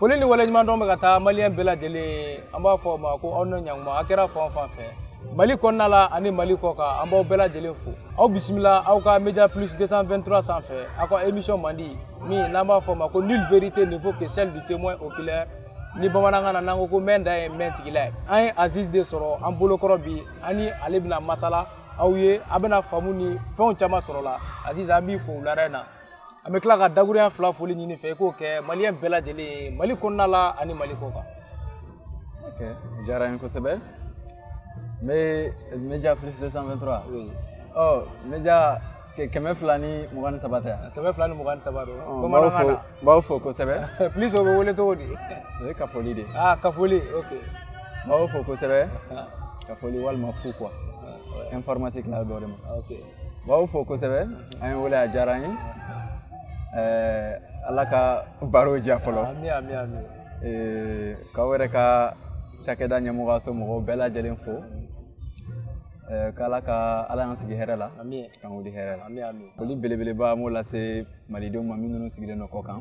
Foli ni waleɲuman dɔn bɛ ka taa maliyɛn bɛɛ lajɛlen ye an b'a fɔ u ma ko aw ni ɲankuma a kɛra fan o fan fɛ Mali kɔnɔna la ani Mali kɔ kan an b'aw bɛɛ lajɛlen fo aw bisimila aw ka Media Plus 223 sanfɛ aw ka émission mandi min n'an b'a fɔ o ma ko nulle vérité ne vaut que celle du témoin oculaire ni bamanankan na n'an ko ko mɛn dan ye mɛn tigila ye an ye Aziz de sɔrɔ an bolokɔrɔ bi an ni ale bɛna masala aw ye a bɛna faamu ni fɛnw caman sɔrɔ la Aziz an b'i fo wulada in na an bɛ tila ka dakuruya fila foli ɲini i fɛ i k'o kɛ maliyɛn bɛɛ lajɛlen ye mali kɔnɔna la ani mali kɔ kan ok diyara n ye kosɛbɛ n bɛ media plus 223 oui. ɔ media kɛmɛ fila ni mugan ni saba tɛ yan kɛmɛ fila ni mugan ni saba don bamanankan na n b'aw fo kosɛbɛ plus o bɛ wele cogo di o ye kafoli de ye ah kafoli ok n b'aw fo kosɛbɛ kafoli walima fu quoi informatique la dɔ de ma ok B'aw fo kosɛbɛ an ye wele a diyara an ye ɛɛ Ala ka baro diya fɔlɔ. Ami ami ami. Ee k'aw yɛrɛ ka cakɛda ɲɛmɔgɔyaso mɔgɔw bɛɛ lajɛlen fo. Ɛɛ k'Ala ka Ala y'an sigi hɛrɛ la. Ami. K'an wuli hɛrɛ la. Ami ami. Foli belebeleba an b'o lase Malidenw ma minnu sigilen don kɔ kan.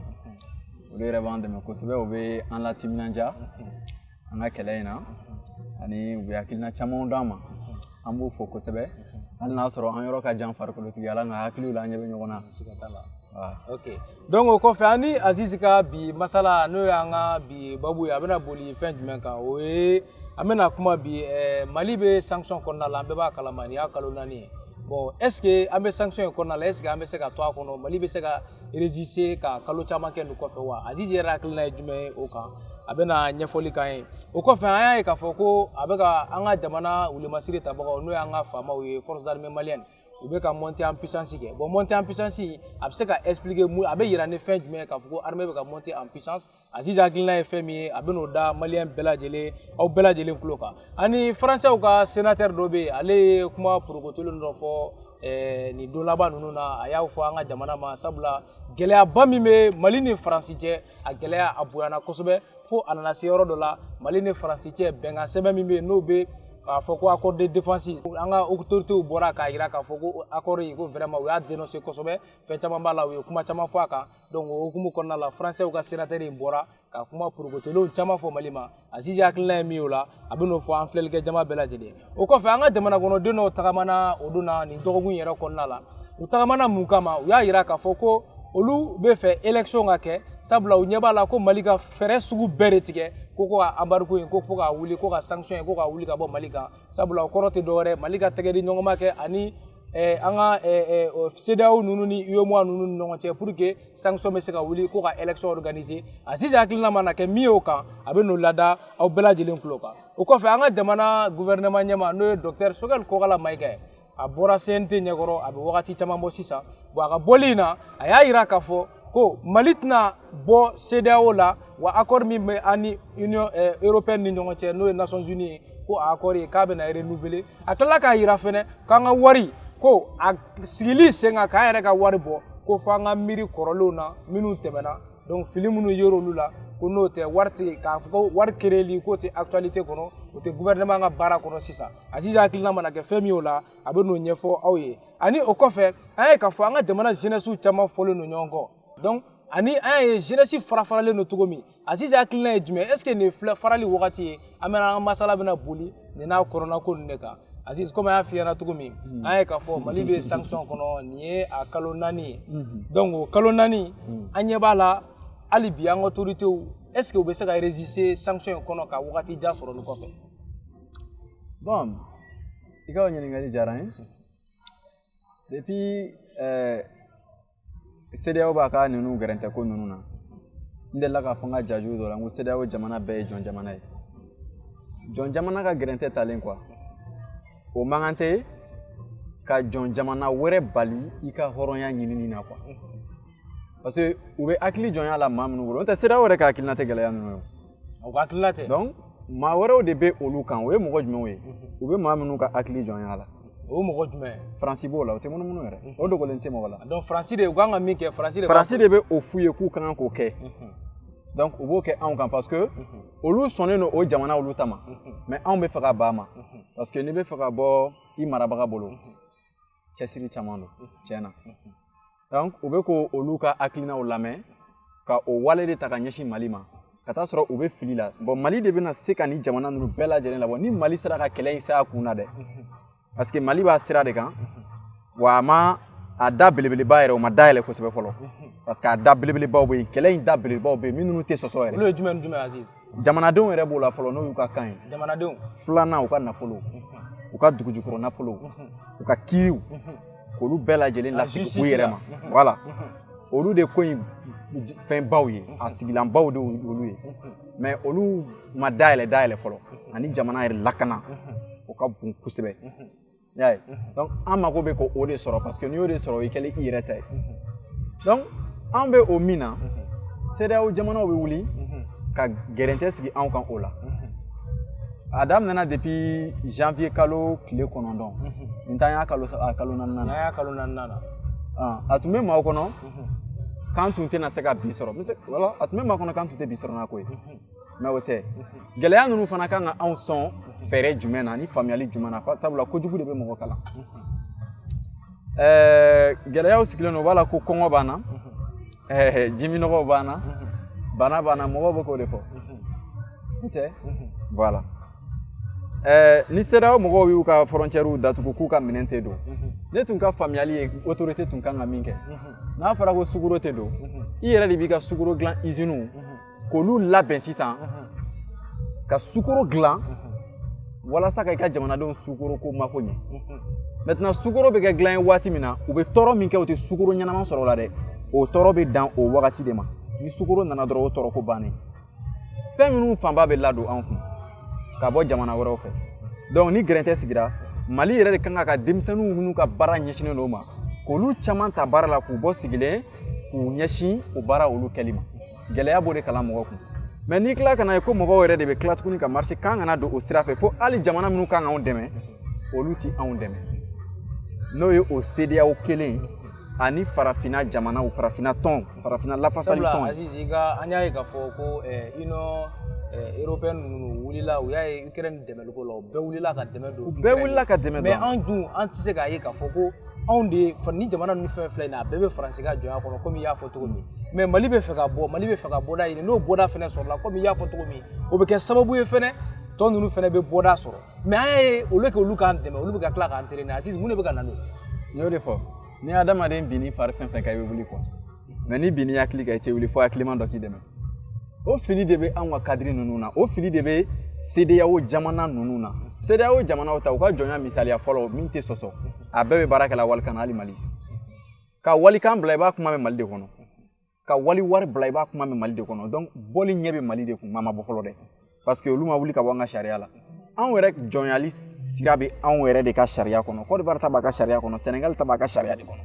Olu yɛrɛ b'an dɛmɛ kosɛbɛ u bɛ an latiminandiya. an ka kɛlɛ in na ani u bɛ hakilina camanw d'an ma an b'u fo kosɛbɛ hali n'a sɔrɔ an yɔrɔ ka jan farikolotigiya la nka hakiliw la an ɲɛ bɛ ɲɔgɔn na ok donc o kɔfɛ an ni azizi ka bi masala n'o y'an ka bi babu ye a bɛna boli fɛn jumɛn kan o ye an bɛna kuma bi eh, mali bɛ sanction kɔnɔna la an bɛɛ b'a kalama nin y'a kalo naani ye bon est ce que an bɛ sanction in kɔnɔna la est ce que an bɛ se ka to a kɔnɔ mali bɛ se ka résister ka kalo caman kɛ nin kɔfɛ wa azizi yɛrɛ hakilina ye jumɛn ye o kan a bɛna ɲɛfɔli k'an ye o kɔfɛ an y'a ye k'a fɔ ko a bɛ ka an ka jamana wulimasiri tabagaw n'o y'an ka FAMaw ye forces armées maliennes u bɛ ka montée en puissance kɛ bon montée en puissance a bɛ se ka expliquer mun a bɛ yira ni fɛn jumɛn ye k'a fɔ ko armée bɛ ka monter en puissance Aziz hakilina ye fɛn min ye a bɛn'o da maliyɛn bɛɛ lajɛlen aw bɛɛ lajɛlen tulo kan ani faransɛw ka senatɛri dɔ bɛ yen ale ye kuma porokotolen dɔ fɔ eh, nin don laban ninnu na a y'a fɔ an ka jamana ma sabula gɛlɛyaba min bɛ mali ni faransi cɛ a gɛlɛya a bonyana kosɛbɛ fo a nana se yɔrɔ dɔ la mali ni faransi cɛ bɛnkan sɛbɛn min bɛ yen n'o bɛ k'a fɔ ko accord de défense an ka autorités bɔra k'a yira k'a fɔ ko accord in ko vraiment u y'a dénoncer kosɛbɛ fɛn caman b'a la u ye kuma caman fɔ a kan donc o hukumu kɔnɔna la faransɛw ka senatɛri in bɔra ka kuma porokotolenw caman fɔ mali ma azizi hakilina ye min y'o la a bɛn'o fɔ an filɛlikɛ jama bɛɛ lajɛlen o kɔfɛ an ka jamana kɔnɔden dɔw tagamana o don na nin dɔgɔkun yɛrɛ kɔnɔna la u tagamana mun kama u y'a yira k'a fɔ ko olu b'a fɛ élection ka kɛ sabula u ɲɛ b'a la ko mali ka fɛɛrɛ sugu bɛɛ de tigɛ ko ko ka embargo in ko fo k'a wuli ko ka sanction in ko k'a wuli ka bɔ mali kan sabula o kɔrɔ tɛ dɔwɛrɛ mali ka tɛgɛdiɲɔgɔnma kɛ ani an ka CEDEAO ninnu ni UEMOA ninnu ni ɲɔgɔn cɛ pour que sanction bɛ se ka wuli ko ka élection organiser Aziz hakilina mana kɛ min ye o kan a bɛ n'o lada aw bɛɛ lajɛlen tulo kan o kɔfɛ an ka jamana gouvernement ɲɛma n'o ye docteur Choguel Kokalla Maïga ye a bɔra CNT ɲɛkɔrɔ a bɛ wagati caman bɔ sisan bon a ka bɔli in na a y'a jira k'a fɔ ko mali tɛna bɔ CEDEAO la wa accord min bɛ an ni union eh, européenne ni ɲɔgɔn cɛ n'o ye nations unies ye ko a accord ye k'a bɛna renouveler a tilala k'a jira fɛnɛ k'an ka wari ko a sigili sen kan k'an yɛrɛ ka wari bɔ ko f'an ka miiri kɔrɔlenw na minnu tɛmɛna donc fili minnu yer'olu la ko n'o tɛ wari tɛ k'a fɔ ko wari créeli k'o tɛ actualité kɔnɔ o tɛ gouvernement ka baara kɔnɔ sisan aziz hakilina mana kɛ fɛn min y'o la a bɛ n'o ɲɛfɔ aw ye ani o kɔfɛ an y'a ye k'a fɔ an ka jamana jeunesse caman fɔlen don ɲɔgɔn kɔ donc ani an y'a ye jeunesse fara faralen don cogo min Azizi hakilina ye jumɛn est ce que nin ye farali wagati ye an bɛna an ka masala bɛna boli nin n'a kɔrɔna ko ninnu de kan Aziz komi an y'a f'i ɲɛna cogo min hmm. an ye k'a fɔ Mali bɛ sanction kɔnɔ nin ye a kalo naani ye hmm. donc o kalo naani hmm. an ɲɛ b'a la hali bi an ka autorités est ce que u bɛ se ka résister sanction in kɔnɔ ka wagati jan sɔrɔ nin kɔfɛ bon i ka o ɲininkali diyara n ye depuis ɛɛ CEDEAO b'a ka ninnu gɛrɛntɛ ko ninnu na n delila k'a fɔ n ka jaju dɔ la n ko CEDEAO jamana bɛɛ ye jɔn jamana ye jɔn jamana ka gɛrɛntɛ talen quoi o man kan tɛ ka jɔn jamana wɛrɛ bali i ka hɔrɔnya ɲinini na quoi parce que u bɛ hakili jɔnya la maa minnu bolo n'o tɛ CEDEAO yɛrɛ ka hakilina tɛ gɛlɛya ninnu ye o ka hakilina tɛ donc maa wɛrɛw de bɛ olu kan o ye mɔgɔ jumɛnw ye u bɛ maa minnu ka hakili jɔnya la o mɔgɔ jumɛn faransi b'o la o tɛ munumunu yɛrɛ o dogolen tɛ mɔgɔ la donc faransi de u kan ka min kɛ faransi de faransi de bɛ o f'u ye k'u ka kan k'o kɛ donc u b'o kɛ anw kan parce que olu sɔnnen don o jamana olu ta ma mais anw bɛ fɛ ka ban a ma parce que n'i bɛ fɛ ka bɔ i marabaga bolo cɛsiri caman don tiɲɛ na donc u bɛ ko olu ka hakilinaw lamɛn ka o wale de ta ka ɲɛsin mali ma ka taa sɔrɔ u bɛ fili la bon mali de bɛna se ka nin jamana ninnu bɛɛ lajɛlen labɔ ni mali sera ka kɛlɛ in se a kun na dɛ parce que mali b'a sira de kan wa a ma a da belebeleba yɛrɛ o ma dayɛlɛ kosɛbɛ fɔlɔ parce que a da belebelebaw bɛ yen kɛlɛ in da belebelebaw bɛ yen minnu tɛ sɔsɔ yɛrɛ olu ye jumɛn ni jumɛn aziz jamanadenw yɛrɛ b'o la fɔlɔ n'o y'u ka kan ye jamanadenw filanan u ka nafolo u ka dugujukɔrɔ nafolo u ka kiiriw k'olu bɛɛ lajɛlen lasegin u yɛrɛ ma voilà olu de ko in fɛn baw ye a sigilan baw de olu ye mais olu ma dayɛlɛ dayɛlɛ fɔlɔ ani jamana yɛrɛ lakana o ka bon kosɛbɛ y'a ye donc an mako bɛ ko o de sɔrɔ parce que n'i y'o de sɔrɔ o y'i kɛlen i yɛrɛ ta ye donc an bɛ o min na CEDEAO jamanaw bɛ wuli ka gɛrɛntɛ sigi anw kan o la a daminɛna depuis janvier kalo tile kɔnɔntɔn nin t'an y'a kalo a kalo naaninan na kalo naaninan na a tun bɛ maaw kɔnɔ k'an tun tɛna se ka bi sɔrɔ wala a tun bɛ maa kɔnɔ k'an tun tɛ bi sɔrɔ n'a ko ye mais o tɛ gɛlɛya ninnu fana kan ka anw sɔn fɛɛrɛ jumɛn na ni faamuyali jumɛn na sabula kojugu de bɛ mɔgɔ kalan ɛɛ gɛlɛyaw sigilen don o b'a la ko kɔngɔ b'an na ɛɛ jiminɔgɔw b'an na bana b'an na mɔgɔw bɛ k'o de fɔ o tɛ voilà ɛɛ ni CEDEAO mɔgɔw y'u ka frontièrew datugu k'u ka minɛn tɛ don ne tun ka faamuyali ye autorité tun kan ka min kɛ n'a fɔra ko sukoro tɛ don i yɛrɛ de b'i ka sukoro dilan iziniw k'olu labɛn sisan ka sukoro dilan walasa ka i ka jamanadenw sukoro ko mako ɲɛ maintenant sukoro bɛ kɛ dilan ye waati min na u bɛ tɔɔrɔ min kɛ u tɛ sukoro ɲɛnama sɔrɔ o la dɛ o tɔɔrɔ bɛ dan o wagati de ma ni sukoro nana dɔrɔn o tɔɔrɔ ko bannen fɛn minnu fanba bɛ ladon anw kun ka bɔ jamana wɛrɛw fɛ donc ni gɛrɛntɛ sigira mali yɛrɛ de kan ka ka denmisɛnninw minnu ka baara ɲɛsinnen don o ma k'olu caman ta baara la k'u bɔ sigilen k'u ɲɛsin o baara olu kɛli ma gɛlɛya b'o de kalan mɔgɔ kun mais n'i tila ka n'a ye ko mɔgɔw yɛrɛ de bɛ tila tuguni ka marché k'an kana don o sira fɛ fo hali jamana minnu kan k'anw dɛmɛ olu ti anw dɛmɛ n'o ye o CEDEAO kelen ani farafinna jamanaw farafinna tɔn farafinna lafasali tɔn aziz ka an y'a ye k'a fɔ ko union européenne ninnu wulila u y'a ye ukraine dɛmɛliko la u bɛɛ wulila ka dɛmɛ don u bɛɛ wulila ka dɛmɛ don mais anw dun an tɛ se k'a ye k'a fɔ ko anw de ni jamana ninnu fɛn filɛ nin ye a bɛɛ bɛ faransi ka jɔnya kɔnɔ komi i y'a fɔ cogo min mais mali bɛ fɛ ka bɔ mali bɛ fɛ ka bɔda ɲini n'o bɔda fɛnɛ sɔrɔla komi i y'a fɔ cogo min o bɛ kɛ sababu ye fɛnɛ tɔ ninnu fɛnɛ bɛ bɔda sɔrɔ mais an y'a ye olu kɛ olu k'an dɛmɛ olu bɛ ka tila k'an traîner aziz mun de bɛ ka na n'o ye n y'o de fɔ ni adamaden bin n'i fari fɛn fɛn kan i bɛ wuli quoi mais n'i bin n'i hakili kan i tɛ wuli fo hakiliman dɔ k'i dɛmɛ o fili de bɛ anw ka cadre ninnu na o fili de bɛ CEDEAO jamana ninnu na CEDEAO jamanaw ta u ka jɔnya misaliya fɔlɔ min tɛ sɔsɔ a bɛɛ bɛ baara kɛla walikan na hali mali ka walikan bila i b'a kuma mɛn mali de kɔnɔ ka wali wari bila i b'a kuma mɛn mali de kɔnɔ donc bɔli ɲɛ bɛ mali de kun maa ma bɔ fɔlɔ dɛ parce que olu ma wuli ka bɔ an ka sariya la anw yɛrɛ jɔnyali sira bɛ anw yɛrɛ de ka sariya kɔnɔ côte d'ivoire ta b'a ka sariya kɔnɔ sénégal ta b'a ka sariya de kɔnɔ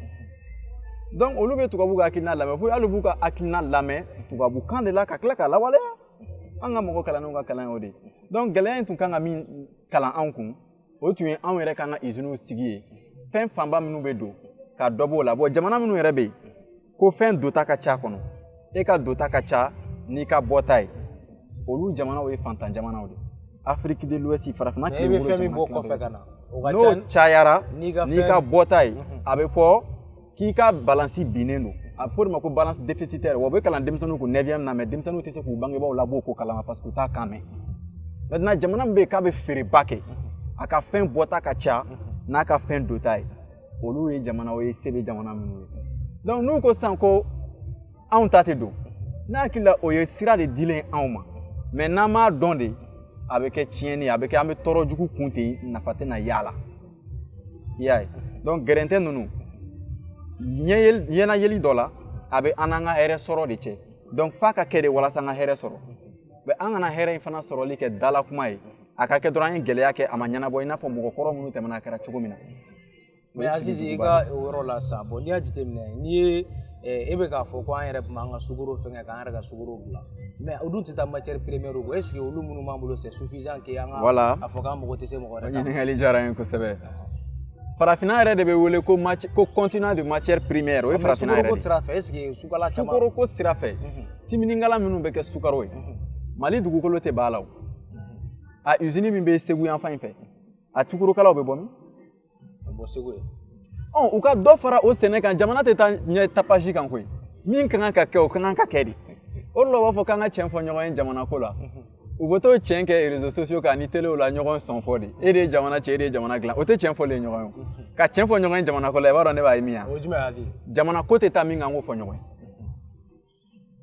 donc olu bɛ tubabu ka hakilina lamɛn fo hali b'u ka hakilina lamɛn tubabukan de la ka tila k'a lawaleya an ka mɔgɔ kalannenw ka kalan y'o de ye donc gɛlɛya in tun kan ka min kalan anw kun o tun ye anw yɛrɛ kan ka iziniw sigi ye fɛn fanba minnu bɛ don ka dɔ b'o la bon jamana minnu yɛrɛ bɛ yen ko fɛn dota ka ca kɔnɔ e ka dota ka ca n'i ka bɔta ye olu jamanaw ye faantan jamanaw de afrique de l'ouest farafinna tilebin jamana n'o cayara n'i ka bɔta ye a bɛ fɔ k'i ka balansi binnen don a bɛ fɔ o de ma ko balance déficitaire wa o bɛ kalan denmisɛnninw kun neuvième na mais denmisɛnninw tɛ se k'u bangebaaw labɔ ko kalama parce que u t'a kan mɛn maintenant jamana min bɛ yen k'a bɛ feereba kɛ a ka fɛn bɔta ka ca n'a ka fɛn dota ye olu ye jamanaw ye se bɛ jamana minnu ye donc n'u ko sisan ko anw ta tɛ don ne hakili la o ye sira de dilen anw ma mais n'an m'a dɔn de a bɛ kɛ tiɲɛni a bɛ kɛ an bɛ tɔɔrɔ jugu kun ten nafa tɛna y'a la i y'a ye donc gɛrɛntɛ ninnu ɲɛnayeli dɔ la a bɛ an n'an ka hɛrɛ sɔrɔ de cɛ donc f'a ka kɛ de walasa an ka hɛrɛ sɔrɔ mais an kana hɛrɛ in fana sɔrɔli kɛ dala kuma ye a ka kɛ dɔrɔn an ye gɛlɛya kɛ a ma ɲɛnabɔ i n'a fɔ mɔgɔ kɔrɔ minnu tɛmɛna a kɛra cogo min na mais azizi i ka o yɔrɔ la sa bon n'i y'a jateminɛ n'i ye e bɛ k'a fɔ ko an yɛrɛ tun b'an ka sukaro fɛngɛ k'an yɛrɛ ka sukaro dilan mais o dun tɛ taa matière première kɔ est-ce que olu minnu b'an bolo c'est suffisant que an ka voilà a fɔ k'an mago tɛ se mɔgɔ wɛrɛ ta ɲininkali diyara n ye kosɛbɛ farafinna yɛrɛ de bɛ wele ko continent de matière primaire o ye farafinna yɛrɛ de sukaroko sira fɛ est-ce que sukala caman sukaroko sira fɛ timinikala minnu bɛ kɛ sukaro ye mali dugukolo tɛ b'a la wa usine min bɛ segu yanfan in fɛ a sukarokalaw bɛ bɔ min ka bɔ segu ye ɔ u ka dɔ fara o sɛnɛ kan jamana tɛ taa ɲɛ tapage kan koyi min ka kan ka kɛ o ka kan ka kɛ de o de la u b'a fɔ k'an ka tiɲɛ fɔ ɲɔgɔn ye jamana ko la u bɛ t'o tiɲɛ kɛ réseaux sociaux kan ni telew la ɲɔgɔn sɔn fɔ de e de ye jamana tiɲɛ e de ye jamana dilan o tɛ tiɲɛ fɔlen ɲɔgɔn ye ka tiɲɛ fɔ ɲɔgɔn ye jamana ko la i b'a dɔn ne b'a ye min ye jamana ko tɛ taa min kan an k'o fɔ ɲɔgɔn ye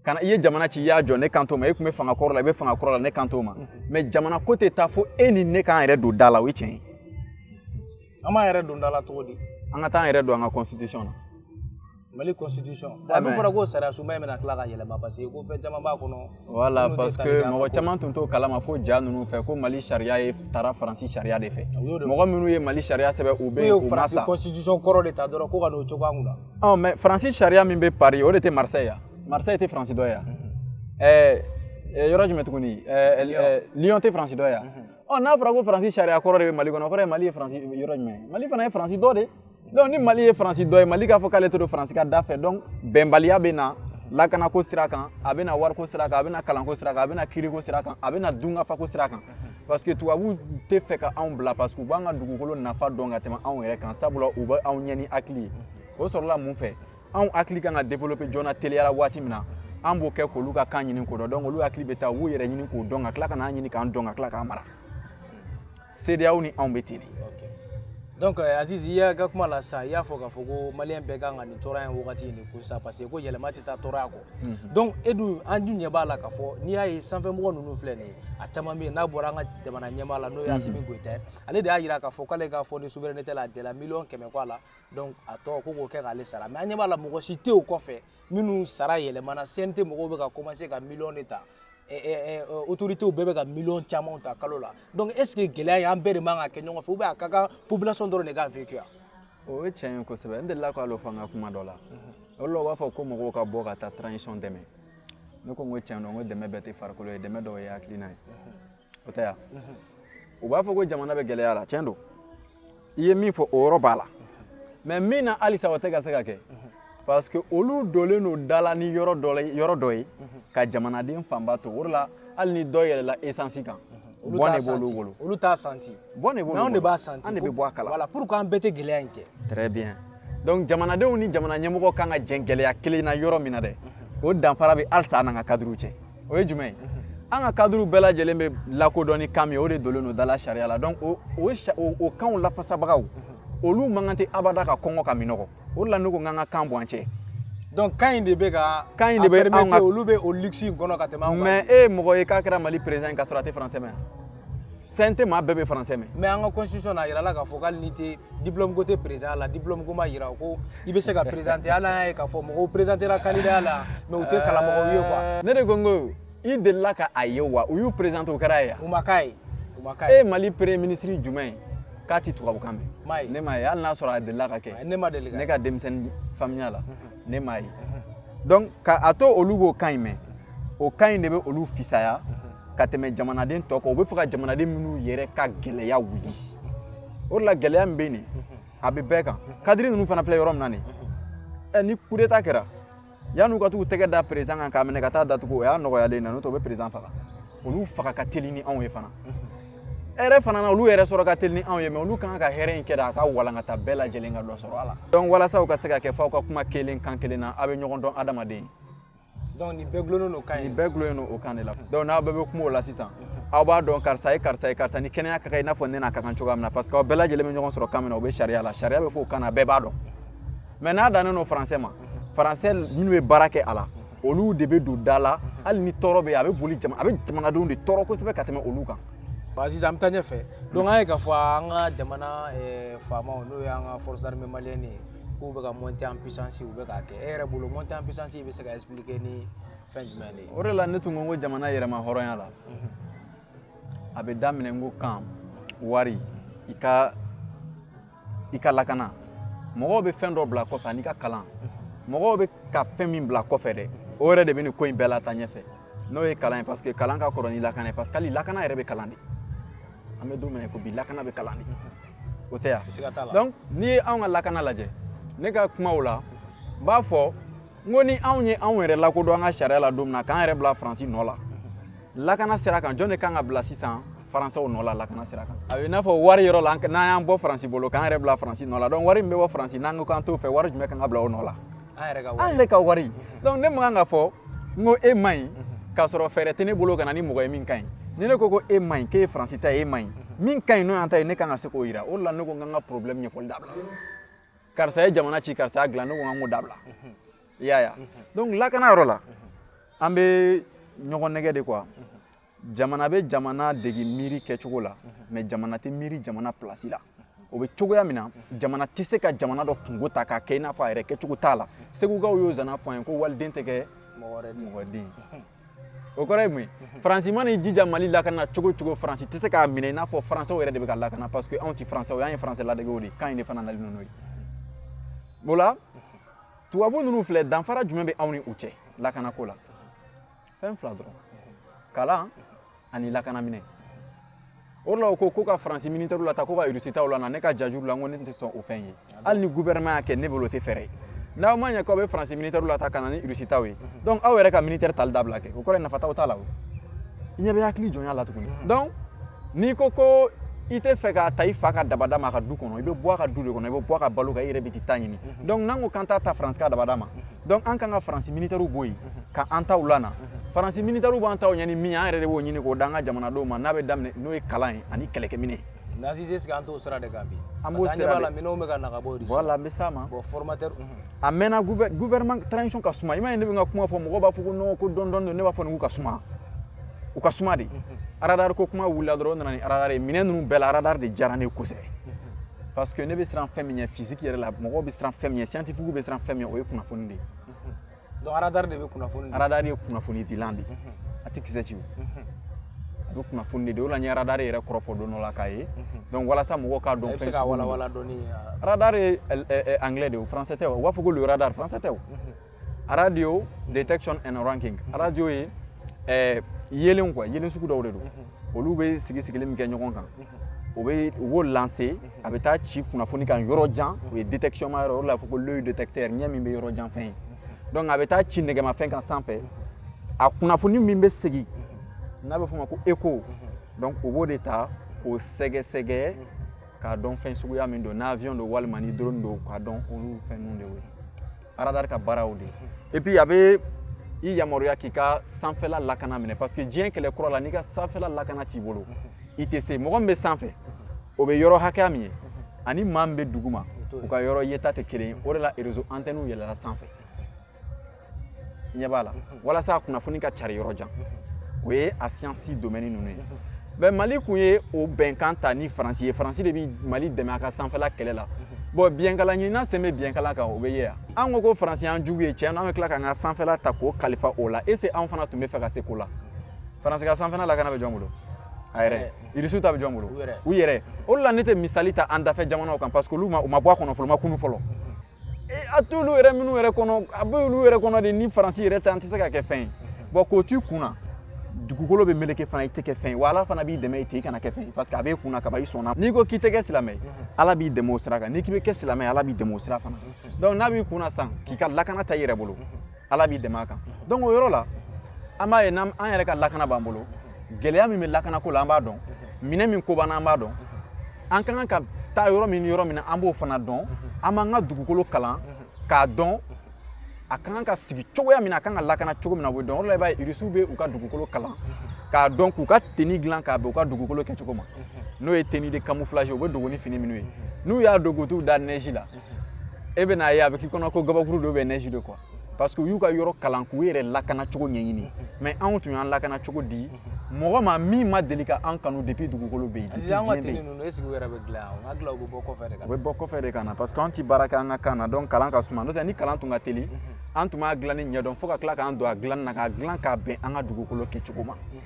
kana i ye jamana ci i y'a jɔ ne kan t'o ma e tun bɛ fanga kɔrɔ la i bɛ fanga kɔrɔ la ne kan t'o ma mais jamana ko tɛ taa fo e ni ne k'an yɛrɛ don da la o ye tiɲɛ ye an b'an yɛrɛ don da la cogo di an ka taa an yɛrɛ don an ka constitution na mali constitution a dun fɔra ko sariya sunba in bɛna tila ka yɛlɛma parce que ko fɛn caman b'a kɔnɔ voilà parce que mɔgɔ caman tun t'o kalama fo ja ninnu fɛ ko mali sariya ye taara faransi sariya de fɛ mɔgɔ minnu ye mali sariya sɛbɛn u bɛ yen u ma sa constitution kɔrɔ de ta dɔrɔn ko ka n'o cogoya mun na ɔ mais faransi sariya min bɛ paris o de tɛ marseille ya marseille tɛ faransi dɔ ye ɛɛ yɔrɔ jumɛn tuguni lyon tɛ faransi dɔ ye ɔ n'a fɔra ko faransi sariya kɔrɔ de bɛ mali kɔnɔ o kɔrɔ ye mali ye faransi yɔrɔ jumɛn mali fana ye faransi dɔ de donc ni mali ye faransi dɔ ye mali k'a fɔ k'ale tɛ don faransi ka da fɛ donc bɛnbaliya bɛ na lakanako sira kan a bɛ na wariko sira kan a bɛ na kalanko sira kan a bɛ na kiiriko sira kan a bɛ na dunkafako sira kan parce que tubabuw tɛ fɛ ka anw bila parce que u b'an ka dugukolo nafa dɔn ka tɛmɛ anw yɛrɛ kan sabula u bɛ anw ɲɛ ni hakili ye o sɔrɔla mun fɛ anw hakili kan ka développer joona teliyara waati min na an b'o kɛ k'olu ka kan ɲini k'o dɔn donc olu hakili bɛ taa u b'u yɛrɛ ɲini k'o dɔn ka tila ka n'an ɲini k'an dɔn ka tila k'an mara CEDEAO ni anw bɛ ten de. donc euh, Aziz i y'a ka kuma la sisan i y'a fɔ k'a fɔ ko maliyɛn bɛɛ kan ka nin tɔɔrɔya in wagati in de kun sisan parce que ko yɛlɛma tɛ taa tɔɔrɔya kɔ Mhm. donc e dun an dun ɲɛ b'a la k'a fɔ n'i y'a ye sanfɛmɔgɔ ninnu filɛ nin ye a caman bɛ yen n'a bɔra an ka jamana ɲɛmaa la n'o ye mhm. Asimi Goyita ye ale de y'a jira k'a fɔ k'ale ka fonds de souveraineté la a dɛla miliyɔn kɛmɛ kɔ a la donc a tɔ ko k'o kɛ k'ale sara mais an ɲɛ b'a la mɔgɔ si tɛ o kɔfɛ minnu sara yɛlɛmana CNT mɔgɔw bɛ ka commencer ka miliyɔn de ta eh, eh, eh, autorités bɛɛ bɛ ka miliyɔn camanw ta kalo la donc est ce que gɛlɛya in an bɛɛ de man ka kɛ ɲɔgɔn fɛ ou bien a ka kan population dɔrɔn de k'a vécu o ye tiɲɛ ye kosɛbɛ n delila k'a lo fɔ an ka kuma dɔ la o la u b'a fɔ ko mɔgɔw ka bɔ ka taa transition dɛmɛ ne ko n ko tiɲɛ don n ko dɛmɛ bɛɛ tɛ farikolo ye dɛmɛ dɔw ye hakilina ye o tɛ yan u b'a fɔ ko jamana bɛ gɛlɛya la tiɲɛ don i ye min fɔ o yɔrɔ b'a la mais min na halisa o tɛ ka se ka kɛ parce que olu dolen don da la ni yɔrɔ dɔ ye ka jamanaden fanba to o de la hali ni dɔ yɛlɛla esansi kan olu t'a santi bɔn de b'olu bolo olu t'a santi bɔn de b'olu bolo mais anw de b'a santi an de bɛ bɔ a kala voilà pourquoi an bɛɛ tɛ gɛlɛya in kɛ très bien donc jamanadenw ni jamana ɲɛmɔgɔ kan ka jɛn gɛlɛya kelen na yɔrɔ min na dɛ o danfara bɛ halisa an n'an ka kadiriw cɛ o ye jumɛn ye an ka kadiriw bɛɛ lajɛlen bɛ lakodɔn ni kan min ye o de dolen don da la sariya la donc o o sa- o o kanw lafasabagaw olu man kan tɛ abada ka kɔngɔ ka minɔgɔ o de la ne ko n k'an ka kan bɔ an cɛ donc kan in de bɛ ka kan in de bɛ anw ka olu bɛ o luxe in kɔnɔ ka tɛmɛ anw kan mais e ye mɔgɔ ye k'a kɛra Mali président ye k'a sɔrɔ a tɛ français mɛn CNT maa bɛɛ bɛ français mɛn mais an ka constitution na a yirala k'a fɔ k'ale n'i tɛ diplôme ko tɛ président la diplôme ko ma yira ko i bɛ se ka présenter hali an y'a ye k'a fɔ mɔgɔw présenter la candidat la mais u tɛ kalan mɔgɔw ye quoi ne de ko n ko i delila ka a ye wa u y'u présenter o kɛra ye yan u ma gagner u ma gagner e ye Mali premier ministre jumɛn ye k'a ti tubabukan mɛn ne m'a ye hali n'a sɔrɔ a delila ka kɛ ne ma deli ne ka denmisɛnnin faamuya la ne m'a ye donc ka a to olu b'o kan in mɛn o kan in de bɛ olu fisaya ka tɛmɛ jamanaden tɔ kan u bɛ fɛ ka jamanaden minnu yɛrɛ ka gɛlɛya wuli o de la gɛlɛya min bɛ nin a bɛ bɛɛ kan kadiri ninnu fana filɛ yɔrɔ min na nin ɛ ni kudeta kɛra yan'u ka t'u tɛgɛ da président kan k'a minɛ ka taa datugu o y'a nɔgɔyalen na n'o tɛ u bɛ président faga olu faga ka teli ni anw ye fana hɛrɛ fana na olu yɛrɛ sɔrɔ ka teli ni anw ye mais olu kan ka hɛrɛ in kɛ de a ka walankata bɛɛ lajɛlen ka dɔ sɔrɔ a la donc walasa u ka se ka kɛ f'aw ka kuma kelen kan kelen na aw bɛ ɲɔgɔn dɔn adamaden donc nin bɛɛ gulonnen don kan ye nin bɛɛ gulonnen don o kan de la donc n'aw bɛɛ bɛ kuma o la sisan aw b'a dɔn karisa ye karisa ye karisa ni kɛnɛya ka kan i n'a fɔ ne n'a ka kan cogoya min na parce que aw bɛɛ lajɛlen bɛ ɲɔgɔn sɔrɔ kan min na o bɛ sariya la sariya bɛ fɔ o kan na bɛɛ b'a dɔn mais n'a dannen don faransɛ ma faransɛ minnu bɛ baara kɛ a la olu de bɛ don da la hali ni tɔɔrɔ bɛ yen a bɛ boli jama a bɛ jamanadenw de tɔɔrɔ kosɛbɛ ka tɛmɛ olu kan ba sisan an bɛ taa ɲɛfɛ donc an ye k'a fɔ an ka jamana eh, faamaw n'o ye an ka forces armées maliennes ye k'u bɛ ka monter en puissance u bɛ k'a kɛ e yɛrɛ bolo monter en puissance bɛ se ka expliquer ni fɛn jumɛn de ye o de la ne tun ko n ko jamana yɛrɛmahɔrɔnya la mhm. a bɛ daminɛ n ko kan wari i ka i ka lakana mɔgɔw bɛ fɛn dɔ bila kɔfɛ ani ka kalan mɔgɔw bɛ ka fɛn min bila kɔfɛ dɛ o yɛrɛ de bɛ nin ko in bɛɛ lataa ɲɛfɛ n'o ye kalan ye parce que kalan ka kɔrɔ ni lakana ye parce que hali lakana yɛrɛ bɛ kalan de an bɛ don min na ko bi lakana bɛ kalan de o tɛ yan donc n'i ye anw ka lakana lajɛ ne ka kumaw la n b'a fɔ n ko ni anw ye anw yɛrɛ lakodɔn an ka sariya la don min na k'an yɛrɛ bila faransi nɔ la lakana sira kan jɔn de kan ka bila sisan faransɛw nɔ la lakana sira kan a bɛ i n'a fɔ wari yɔrɔ la n'an y'an bɔ faransi bolo k'an yɛrɛ bila faransi nɔ la donc wari min bɛ bɔ faransi n'an ko k'an t'o fɛ wari jumɛn kan ka bila o nɔ la an yɛrɛ ka wari donc ne man kan k'a fɔ n ko e man ɲi k'a sɔrɔ fɛɛrɛ tɛ ne bolo ka na ni mɔgɔ ye min ka ɲi ni ne ko ko e man ɲi k'e ye faransi ta ye e man ɲi min ka ɲi n'o y'an ta ye ne kan ka se k'o yira o de la ne ko an kan ka problème ɲɛfɔli dabila karisa ye jamana ci karisa y'a dilan ne ko an kan k'o dabila i y'a ye donc lakana yɔrɔ la an bɛ ɲɔgɔn nɛgɛn de quoi jamana bɛ jamana degi miiri kɛcogo la mais jamana tɛ miiri jamana pilasi la o bɛ cogoya min na jamana tɛ se ka jamana dɔ kunko ta k'a kɛ i n'a fɔ a yɛrɛ kɛcogo t'a la segukaw y'o zana fɔ an ye ko waliden tɛ kɛ mɔgɔ den o kɔrɔ ye mun ye faransi mana i jija mali lakana cogo cogo faransi tɛ se k'a minɛ i n'a fɔ faransɛw yɛrɛ de bɛ ka lakana parce que anw tɛ faransɛw y'an ye faransɛ ladegew de kan in de fana nali n'o ye o la tubabu ninnu filɛ danfara jumɛn bɛ anw ni u cɛ lakanako la fɛn fila dɔrɔn kalan ani lakanaminɛn o la u ko ko ka faransi minitɛriw lataa ko ka irusi taw lana ne ka jajuru la n ko ne tɛ sɔn o fɛn ye hali ni gouvernement y'a kɛ ne bolo o tɛ fɛɛrɛ ye n'aw ma ɲɛ k'aw bɛ faransi minitɛriw lataa ka na ni irusi taw ye donc aw yɛrɛ ka minitɛri tali dabila kɛ o kɔrɔ ye nafa t'aw ta la o i ɲɛ bɛ hakili jɔnya la tuguni donc n'i ko ko i tɛ fɛ k'a ta i fa ka dabada ma a ka du kɔnɔ i bɛ bɔ a ka du de kɔnɔ i bɛ bɔ a ka balo kan i yɛrɛ bɛ t'i ta ɲini donc n'an ko k'an t'a ta faransi ka dabada ma donc an kan ka faransi militɛriw bɔ yen mhm. ka an taw lana mhm. faransi militɛriw b'an taw ɲɛ ni min an yɛrɛ de b'o ɲini k'o d'an ka jamanadenw ma n'a bɛ daminɛ n'o ye kalan ye ani kɛlɛkɛminɛn mais Azizi est-ce que an t'o sira de kan bi an b'o sira de la minɛnw bɛ ka na ka bɔ Russie voilà an bɛ s'a ma bon formateur mhm. a mɛnna gouvernement transition ka suma i m'a ye ne bɛ n ka kuma fɔ mɔgɔw b'a fɔ ko non ko dɔɔni dɔɔni ne b'a fɔ nin k'u ka suma u ka suma de radar ko kuma wulila dɔrɔn o nana ni radar ye minɛn ninnu bɛɛ la radar de diyara ne ye kosɛbɛ parce que ne bɛ siran fɛn min ɲɛ physique yɛrɛ la mɔgɔw bɛ siran fɛn min ɲɛ scientifique bɛ siran fɛn min ɲɛ o ye kunnafoni de ye donc radar de bɛ kunnafoni di radar ye kunnafoni dilan de ye a tɛ kisɛ ci o a bɛ kunnafoni de di o la n ye radar yɛrɛ kɔrɔ fɔ don dɔ la k'a ye donc walasa mɔgɔw k'a dɔn fɛn sugu radar ye anglais de ye o français tɛ o u b'a fɔ ko le radar français tɛ o radio detection and ranging mhm. radio ye eh, yeelen quoi yeelen sugu dɔw de don mhm. olu bɛ sigi sigili min kɛ ɲɔgɔn kan mhm. o bɛ u b'o lancer a bɛ taa ci kunnafoni kan yɔrɔ jan o ye détection ma yɔrɔ o la a fɔ ko l'œil détecteur ɲɛ min bɛ yɔrɔ jan fɛn ye donc a bɛ taa ci nɛgɛmafɛn kan sanfɛ a kunnafoni min bɛ segin n'a bɛ f'o ma ko écho donc o b'o de ta k'o sɛgɛsɛgɛ k'a dɔn fɛn suguya min don n'avion don walima ni drone don k'a dɔn olu fɛn ninnu de ye radar ka baaraw de et puis a bɛ i yamaruya k'i ka sanfɛla lakana minɛ parce que diɲɛ kɛlɛ kura la n'i ka sanfɛla lakana t'i bolo i tɛ se mɔgɔ min bɛ sanfɛ o bɛ yɔrɔ hakɛya min ye ani maa min bɛ duguma u ka yɔrɔ yeta tɛ kelen ye o de la réseau antɛniw yɛlɛla sanfɛ i ɲɛ b'a la walasa kunnafoni ka cari yɔrɔ jan o ye a science domaine ninnu ye mais mali kun ye o bɛnkan ta ni faransi ye faransi de bɛ mali dɛmɛ a ka sanfɛla kɛlɛ la bon biɲɛkala ɲinina sen bɛ biɲɛkala kan o bɛ ye yan an ko ko faransi y'an jugu ye tiɲɛ na an bɛ tila k'an ka sanfɛla ta k'o kalifa o la est-ce que anw fana tun bɛ fɛ ka se ko la faransi ka sanfɛla lakana bɛ jɔn bolo a yɛrɛ irisiw ta bɛ jɔn bolo u yɛrɛ o de la ne tɛ misali ta an dafɛ jamanaw kan parce que olu ma u ma bɔ a kɔnɔ fɔlɔ u ma kunun fɔlɔ a to olu yɛrɛ minnu yɛrɛ kɔnɔ a bɛ olu yɛrɛ kɔnɔ de ni faransi yɛrɛ tɛ an tɛ se ka kɛ fɛn ye bon k'o t'i kun na dugukolo bɛ meleke fana i tɛ kɛ fɛn ye wa ala fana b'i dɛmɛ i tɛ i kana kɛ fɛn ye parce que a b'e kun na kaban i sɔnna n'i ko k'i tɛ kɛ silamɛ ye ala b'i dɛmɛ o sira kan n'i k'i bɛ kɛ silamɛ ye ala b'i dɛmɛ o sira fana donc n'a b'i kun na sisan k'i ka lakana ta i yɛrɛ bolo ala b'i dɛmɛ a kan donc o yɔrɔ la an b'a ye n'an yɛrɛ ka lakana b'an bolo gɛlɛya min bɛ lakana ko la an b'a dɔn minɛn min ko b'an na an b'a dɔn an ka kan ka taa yɔrɔ min ni yɔrɔ min na an b'o fana dɔn an b'an ka dugukolo kalan k'a dɔn a ka kan ka sigi cogoya min na a ka kan ka lakana cogo min na o bɛ dɔn o de la i b'a ye irisiw bɛ u ka dugukolo kalan k'a dɔn k'u ka tenue dilan k'a bɛn u ka dugukolo kɛcogo ma n'o ye tenue de camouflage u bɛ dogo ni fini minnu ye n'u y'a don ka t'u da neige la e bɛ n'a ye a bɛ k'i kɔnɔ ko gabakuru dɔ bɛ neige de quoi parce que u y'u ka yɔrɔ kalan k'u yɛrɛ lakana cogo ɲɛɲini mais anw tun y'an lakana cogo di mɔgɔ ma min ma deli ka an kanu depuis dugukolo bɛ yen depuis diɲɛ bɛ yen an ka tenue ninnu est-ce que u yɛrɛ bɛ dilan yan n hakili la u bɛ bɔ kɔfɛ de ka na u bɛ bɔ kɔfɛ de ka na parce que anw tɛ baara kɛ an ka kan na donc kalan ka suma n'o tɛ ni kalan tun ka teli an tun b'a dilanni ɲɛdɔn fo ka tila k'an don a dilanni na k'a dilan k'a bɛn an ka dugukolo kɛcogo ma mhm.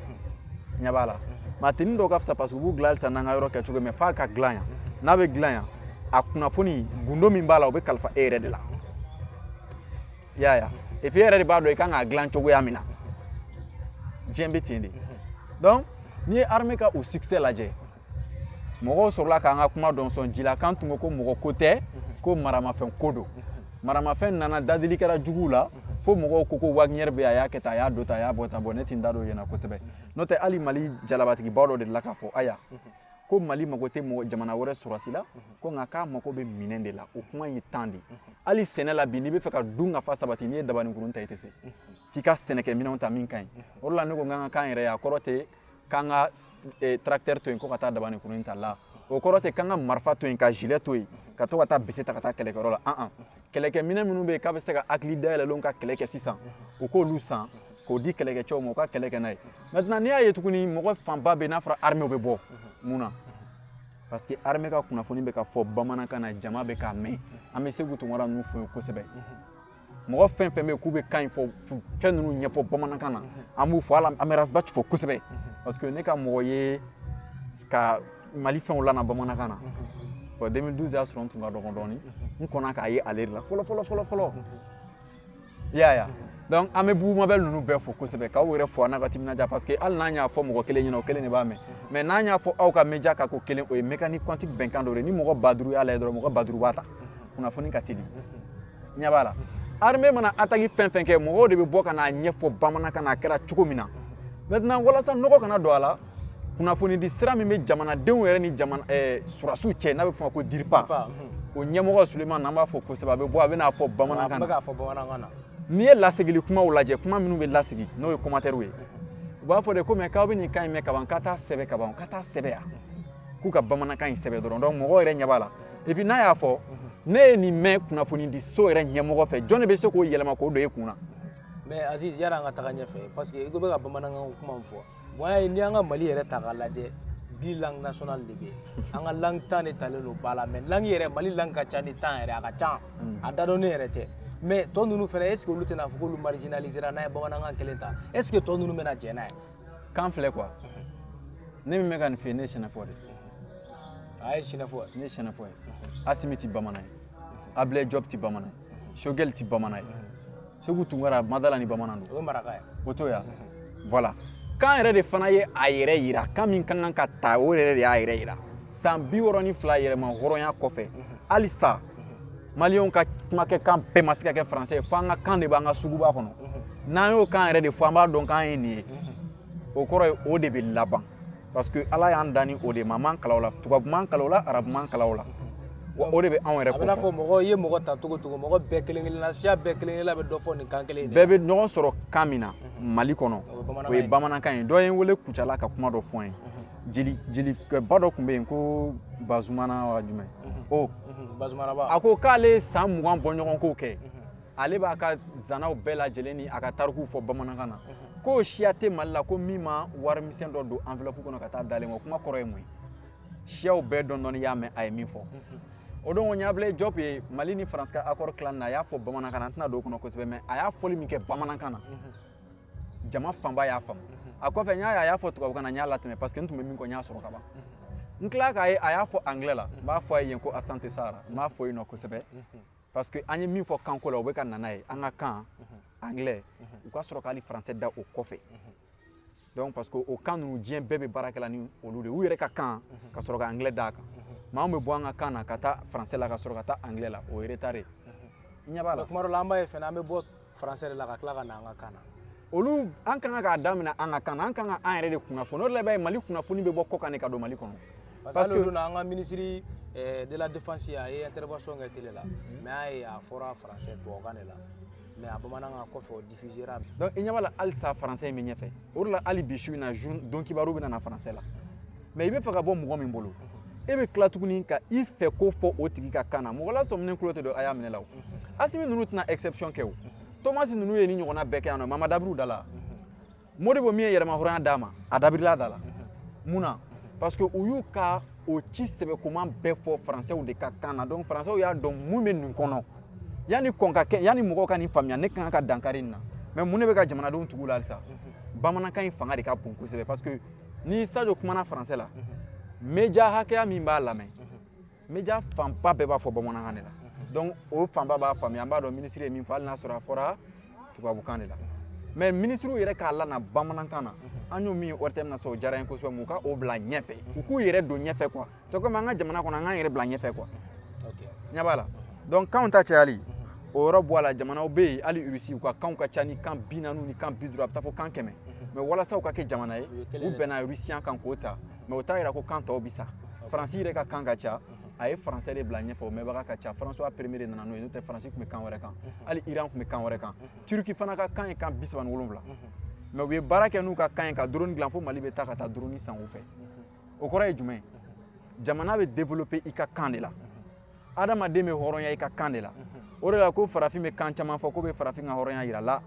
ɲɛ b'a la mais tenue dɔw ka fisa parce que u b'u dilan halisa n'an ka yɔrɔ kɛcogo mais f'a ka dilan yan n'a bɛ dilan yan a kunnafoni gundo min b'a la o bɛ kalifa e yɛrɛ de la i y'a ye et puis e yɛrɛ de b'a dɔn i kan k'a dilan cogoya min na diɲɛ bɛ ten de donc n'i ye armée ka o succès lajɛ mɔgɔw sɔrɔla k'an ka kuma dɔ sɔn ji la k'an tun ko ko mɔgɔ ko tɛ mhm. ko maramafɛn ko don mhm. maramafɛn nana dadigi kɛra juguw la mhm. fo mɔgɔw ko ko wagner bɛ a y'a kɛ tan a y'a don tan a y'a bɔ tan bon ne tɛ n da don yen na kosɛbɛ n'o tɛ hali mali jalabatigiba dɔ delila k'a fɔ aya ko mali mago tɛ mɔgɔ jamana wɛrɛ sɔrɔsi la ko nka k'a mago bɛ minɛn de la o kuma ye tan de hali sɛnɛ la bi n'i bɛ fɛ ka dunkafa sabati n'i ye dabaninkurun ta i tɛ se f'i ka sɛnɛkɛminɛnw ta min ka ɲi o de la ne ko an ka kan ka k'an yɛrɛ ye a kɔrɔ tɛ k'an ka eh, tracteur to yen ko ka taa dabaninkurun ta la o kɔrɔ tɛ k'an ka marifa to yen ka gilet to yen ka to ka taa bese ta ka taa kɛlɛkɛyɔrɔ la an kɛlɛkɛminɛn minnu bɛ yen k'a bɛ se ka hakili dayɛlɛlenw ka kɛlɛ kɛ sisan u k'olu san k'o di kɛlɛkɛcɛw ma u ka kɛlɛ kɛ n'a ye maintenant n'i y'a ye tuguni mɔgɔ fanba bɛ n'a fɔra armée u bɛ bɔ mun na parce que armée ka kunnafoni bɛ ka fɔ bamanankan na jama bɛ k'a mɛn an bɛ seku tunkara ninnu fo yen kosɛbɛ mɔgɔ fɛn fɛn bɛ k'u bɛ kan in fɔ fɛn ninnu ɲɛfɔ bamanankan na an b'u fo hali an bɛ ras bath fo kosɛbɛ parce que ne ka mɔgɔ ye ka mali fɛnw lana bamanankan na wa 2012 y'a sɔrɔ n tun ka dɔgɔ dɔɔni n kɔnna k'a ye ale de la fɔlɔ fɔlɔ fɔlɔ fɔlɔ i y'a ye donc an bɛ bubu mabɛl ninnu bɛɛ fo kosɛbɛ k'aw yɛrɛ fo a n'a ka timinandiya parce que hali n'an y'a fɔ mɔgɔ kelen ɲɛna o kelen de b'a mɛn mais n'an y'a fɔ aw ka media kan ko kelen o ye mécanique quantique bɛnkan dɔ de ye ni mɔgɔ ba duuru y'a lajɛ dɔrɔn mɔgɔ ba duuru b'a ta kunnafoni ka teli ɲɛ b'a la armée mana ataki fɛn fɛn kɛ mɔgɔw de bɛ bɔ ka n'a ɲɛfɔ bamanankan na a kɛra cogo min na maintenant walasa nɔgɔ kana don a la kunnafonidi sira min bɛ jamanadenw yɛrɛ ni jamana eh, surasiw cɛ n'a bɛ fɔ o ma ko dirpa o ɲɛmɔgɔ suleman an b'a fo kosɛbɛ a bɛ bɔ a bɛ n'a fɔ bamanankan na n'i ye lasegili kumaw lajɛ kuma minnu bɛ lasegin n'o ye kɔmatɛriw ye u b'a fɔ de ko mais k'aw bɛ nin kan in mɛn kaban k'a t'a sɛbɛn kaban k'a t'a sɛbɛn yan k'u ka bamanankan in sɛbɛn dɔrɔn donc mɔgɔ yɛrɛ ɲɛ b'a la et puis n'a y'a fɔ mhm. ne ye nin mɛn kunnafonidi so yɛrɛ ɲɛmɔgɔ fɛ jɔn de bɛ se k'o yɛlɛma k'o don e kun na mais aziz yanni an ka taga ɲɛfɛ parce que i ko bɛ ka bamanankan kuma min fɔ bon y'a ye n'i y'an ka mali yɛrɛ ta k'a lajɛ dix langues nationales de bɛ yen an ka langue tan de talen don ba la mais langue yɛrɛ mali langue ka ca ni tan yɛrɛ a ka ca mm. a dadɔnnen yɛrɛ tɛ mais tɔ ninnu fana est ce que olu tɛna fɔ k'olu marginalisera n'an ye bamanankan kelen ta est ce que tɔ ninnu bɛna jɛn n'a ye kan filɛ quoi ne min bɛ ka nin f'i ye ne ye sɛnɛfɔ de ye a ye sɛnɛfɔ ne ye sɛnɛfɔ ye asimi tɛ bamanan ye abilɛ jɔb tɛ bamanan ye shogɛl tɛ bamanan ye seku tunkara n ma d'a la ni bamanan don o ye maraka ye o to ya voilà kan yɛrɛ de fana ye a yɛrɛ yira kan min ka kan ka ta o yɛrɛ de y'a yɛrɛ yira san bi wɔɔrɔ ni fila yɛrɛmahɔrɔnya kɔfɛ mhm. halisa mhm. maliyɛnw ka kumakɛ kan bɛɛ ma se ka kɛ faransɛ fo an ka kan de b'an ka suguba kɔnɔ mhm. n'an y'o kan yɛrɛ de fɔ an b'a dɔn k'an ye nin ye o kɔrɔ ye o de bɛ laban parce que ala y'an dan ni o de maa m'an kalan o la tubabu m'an kalan o la arabu m'an kalan o la wa o de bɛ anw yɛrɛ kofɔ a bɛna fɔ mɔgɔ i ye mɔgɔ ta cogo cogo mɔgɔ bɛɛ kelen kelenna siya bɛɛ kelen kelenna bɛ dɔ fɔ nin kan kelen in de bɛɛ bɛ ɲɔgɔn sɔrɔ kan min na mali kɔnɔ o ye bamanankan ye dɔ ye n wele kucala ka kuma dɔ fɔ n ye jeli jelikɛba dɔ tun bɛ yen ko bazumana wa jumɛn o bazumanaba a ko k'ale ye san mugan bɔɲɔgɔnko kɛ ale b'a ka zanaw bɛɛ lajɛlen ni a ka tarikuw fɔ bamanankan na ko siya tɛ mali la ko min ma wari misɛn dɔ don enveloppe kɔnɔ ka taa d'ale ma kuma kɔrɔ ye mun ye siyaw bɛɛ dɔɔni dɔɔni y'a mɛn a ye min fɔ o don ko ni ablayi jɔp ye mali ni faransi ka accord tilan na a y'a fɔ bamanankan na an tɛna don o kɔnɔ kosɛbɛ mɛ a y'a fɔli min kɛ bamanankan na jama fanba y'a faamu a kɔfɛ n y'a ye a y'a fɔ tubabukan na n y'a latɛmɛ parce que n tun bɛ min kɔ n y'a sɔrɔ ka ban n tila k'a ye a y'a fɔ anglais la n b'a fɔ a ye yen ko asante sana n b'a fo yen nɔ kosɛbɛ parce que an ye min fɔ kanko la o bɛ ka na n'a ye an ka kan anglais u ka sɔrɔ k'ali français da o kɔfɛ donc parce que o kan ninnu diɲɛ bɛɛ bɛ baara kɛla ni olu de ye u yɛrɛ ka kan ka sɔrɔ ka anglais d'a kan maa min bɛ bɔ an ka kan na ka taa français la ka sɔrɔ ka taa anglais la o ye retard ye i ɲɛ b'a la tuma dɔ la an b'a ye fana an bɛ bɔ français de la ka tila ka na an ka kan na olu an kan ka k'a daminɛ an ka kan na an kan ka an yɛrɛ de kunnafoni o de la i b'a ye mali kunnafoni bɛ bɔ kɔkan de ka don mali kɔnɔ parce que o don na an ka minisiri eh, de la défense a ye intervention kɛ télé la mhm. mais a ye a fɔra français tubabukan de la mais a bamanankan kɔfɛ o diffusera donc i ɲɛ b'a la halisa français in bɛ ɲɛfɛ o de la hali bi su in na donkibaru bɛ na na français la mɛ i bɛ fɛ ka bɔ mɔgɔ min bolo e bɛ tila tuguni ka i fɛ ko fɔ o tigi ka kan na mɔgɔ lasɔminen tulo tɛ don a y'a minɛ la o asimi ninnu tɛna exception kɛ o tomasi ninnu ye ni ɲɔgɔnna bɛɛ kɛ yan nɔ mama dabiri da la modibo min ye yɛrɛmahɔrɔnya d'an ma a dabirila da la mun na parce que u y'u ka o ci sɛbɛ kuma bɛɛ fɔ faransɛw de ka kan na donc faransɛw y'a dɔn mun bɛ nin kɔnɔ yanni ko in ka kɛ yanni mɔgɔw ka nin faamuya ne kan ka dankari nin na mɛ mun de bɛ ka jamanadenw tugu la halisa bamanankan in fanga de ka bon kosɛbɛ parce que ni sajo kumana faransɛ la meja hakɛya min b'a lamɛn meja fanba bɛɛ b'a fɔ bamanankan de la donc o fanba b'a faamuya an b'a dɔn minisiri ye min fɔ hali n'a sɔrɔ a fɔra tubabukan de la mɛ minisiriw yɛrɛ k'a lana bamanankan na an y'o min ye ortm na sa o diyara n ye kosɛbɛ mɛ u ka o bila ɲɛfɛ u k'u yɛrɛ don ɲɛfɛ quoi c'est comme an ka jamana kɔnɔ an k'an yɛrɛ bila ɲɛfɛ quoi ɲɛ b'a la donc kanw ta cayali o yɔrɔ bɔ a la jamanaw bɛ yen hali irisi u ka kanw ka ca ni kan bi naani ni kan bi duuru a bɛ taa fo kan kɛmɛ mɛ walasa u ka kɛ jamana ye u bɛnna irisiyan kan k'o ta mɛ o t'a yira ko kan tɔw bɛ sa faransi yɛrɛ ka kan ka ca a ye faransɛ de bila ɲɛfɛ o mɛnbaga ka ca faransuwa premier de nana n'o ye n'o tɛ faransi tun bɛ kan wɛrɛ kan hali iran tun bɛ kan wɛrɛ kan turki fana ka kan ye kan bi saba ni wolonwula mɛ u ye baara kɛ n'u ka kan ye ka doroni dilan fo mali bɛ taa ka taa doroni san u fɛ o kɔrɔ ye jumɛn jamana bɛ développer i ka kan de la adamaden bɛ hɔrɔnya i ka kan de la o de la ko farafin bɛ kan caman fɔ k'o bɛ farafin ka hɔrɔnya yira la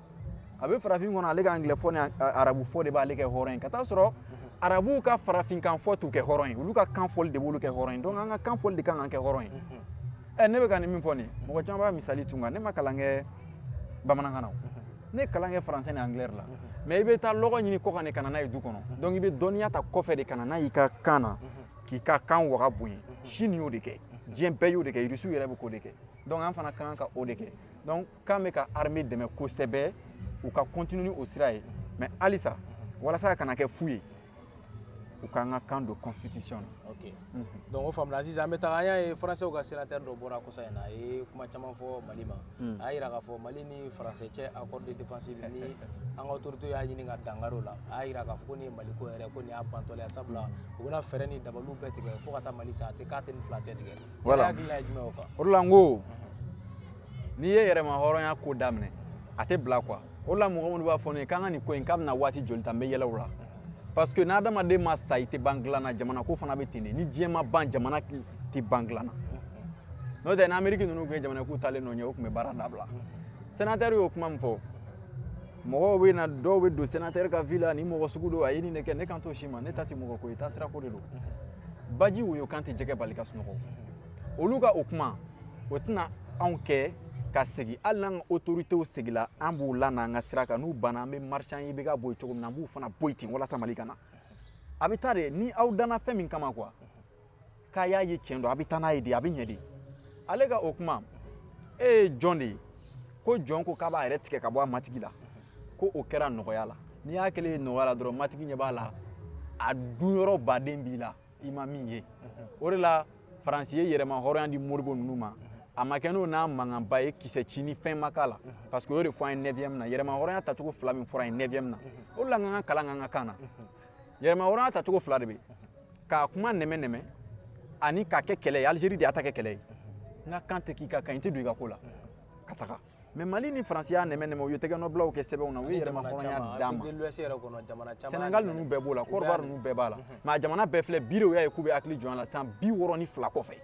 a bɛ farafin kɔnɔ ale ka angilɛ fɔ ni arabu fɔ de b'ale kɛ hɔrɔn ye ka taa sɔrɔ arabuw ka farafinkan fɔ t'u kɛ hɔrɔn ye olu ka kan fɔli de b'olu kɛ hɔrɔn ye donc an ka kan fɔli de kan k'an kɛ hɔrɔn ye ɛ ne bɛ ka nin min fɔ nin mɔgɔ caman b'a misali tun kan ne ma kalan kɛ bamanankan na o ne ye kalan kɛ français ni anglais la mais i bɛ taa lɔgɔ ɲini kɔ kan de ka na n'a ye du kɔnɔ donc i bɛ dɔnniya ta kɔfɛ de ka na n'a y'i ka kan na k'i ka kan waga bonya chine y'o de kɛ diɲɛ bɛɛ y'o de kɛ irisiw yɛrɛ bɛ k'o de kɛ donc an fana ka kan ka o de kɛ donc kan bɛ ka armée dɛmɛ kosɛbɛ u ka continuer ni o sira ye mais halisa walasa a kana kɛ fu ye u k'an ka kan don constitution na ok mhm. donc o faamuna sisan an bɛ taga an y'a ye faransɛw ka sénateur dɔ bɔra kɔsa in na a ye kuma caman fɔ mali ma mhm. a y'a yira k'a fɔ mali ni faransɛ cɛ accord de défense ni an ka autorité y'a ɲini ka dankari o la a y'a yira k'a fɔ ko nin ye mali ko yɛrɛ ko nin y'a bantɔla ye sabula mhm. u bɛna fɛɛrɛ ni dabaliw bɛɛ tigɛ fo ka taa mali sa a tɛ k'a tɛ nin fila cɛ tigɛ voilà hakilina ye jumɛn o kan o de la n ko n'i ye yɛrɛma hɔrɔnya ko daminɛ a tɛ bila quoi o la mɔgɔ minnu b'a fɔ ne ye k'an ka nin ko in k'a bɛna waati joli ta n bɛ yɛlɛ u la parce que n'adamaden ma sa i tɛ ban dilan na jamana ko fana bɛ ten de ni diɲɛ ma ban jamana tɛ ban dilan na n'o tɛ ni ameriki ninnu tun ye jamana k'u taalen don ɲɛ u tun bɛ baara dabila senatɛri y'o kuma min fɔ mɔgɔw bɛ na dɔw bɛ don senatɛri ka vie la ni mɔgɔ sugu don a ye nin de kɛ ne kan t'o si ma ne ta tɛ mɔgɔ ko ye taasira ko de don baji woyo kan tɛ jɛgɛ bali ka sunɔgɔ olu ka o kuma o tɛna anw kɛ ka segin hali n'an ka otoritew segila an b'u lana an ka sira kan n'u banna an bɛ marcher an ye IBK bɔ yen cogo min na an b'u fana bɔ yen ten walasa mali ka na a bɛ taa de ni aw danna fɛn min kama quoi k'a y'a ye tiɲɛ don a bɛ taa n'a ye de a bɛ ɲɛ de ale ka o kuma e ye jɔn de ye ko jɔn ko k'a b'a yɛrɛ tigɛ ka bɔ a matigi la ko o kɛra nɔgɔya la n'i y'a kɛlen ye nɔgɔya la dɔrɔn matigi ɲɛ b'a la a dunyɔrɔba de b'i la i ma min ye o de la faransi ye yɛrɛma hɔrɔnya di modibo ninnu ma a ma kɛ n'o n'a mankanba ye kisɛ ci ni fɛn ma k'a la parce que u y'o de fɔ an ye 9e na yɛrɛma hɔrɔnya tacogo fila min fɔra an ye 9e na o de la k'an ka kalan k'an ka kan na yɛrɛma hɔrɔnya tacogo fila de bɛ k'a kuma nɛmɛ nɛmɛ ani k'a kɛ kɛlɛ ye alizeri de y'a ta kɛ kɛlɛ ye n ka kan tɛ k'i ka kan i tɛ don i ka ko la ka taga mais mali ni faransi y'a nɛmɛ nɛmɛ u ye tɛgɛnɔbilaw kɛ sɛbɛnw na u ye yɛrɛmahɔrɔnya d'an ma sɛnɛgali ninnu bɛɛ b'o la kodiwari ninnu bɛɛ b'a la mais a jamana bɛɛ filɛ bi de u y'a ye k'u bɛ hakili jɔn a la san bi wɔɔrɔ ni fila kɔfɛ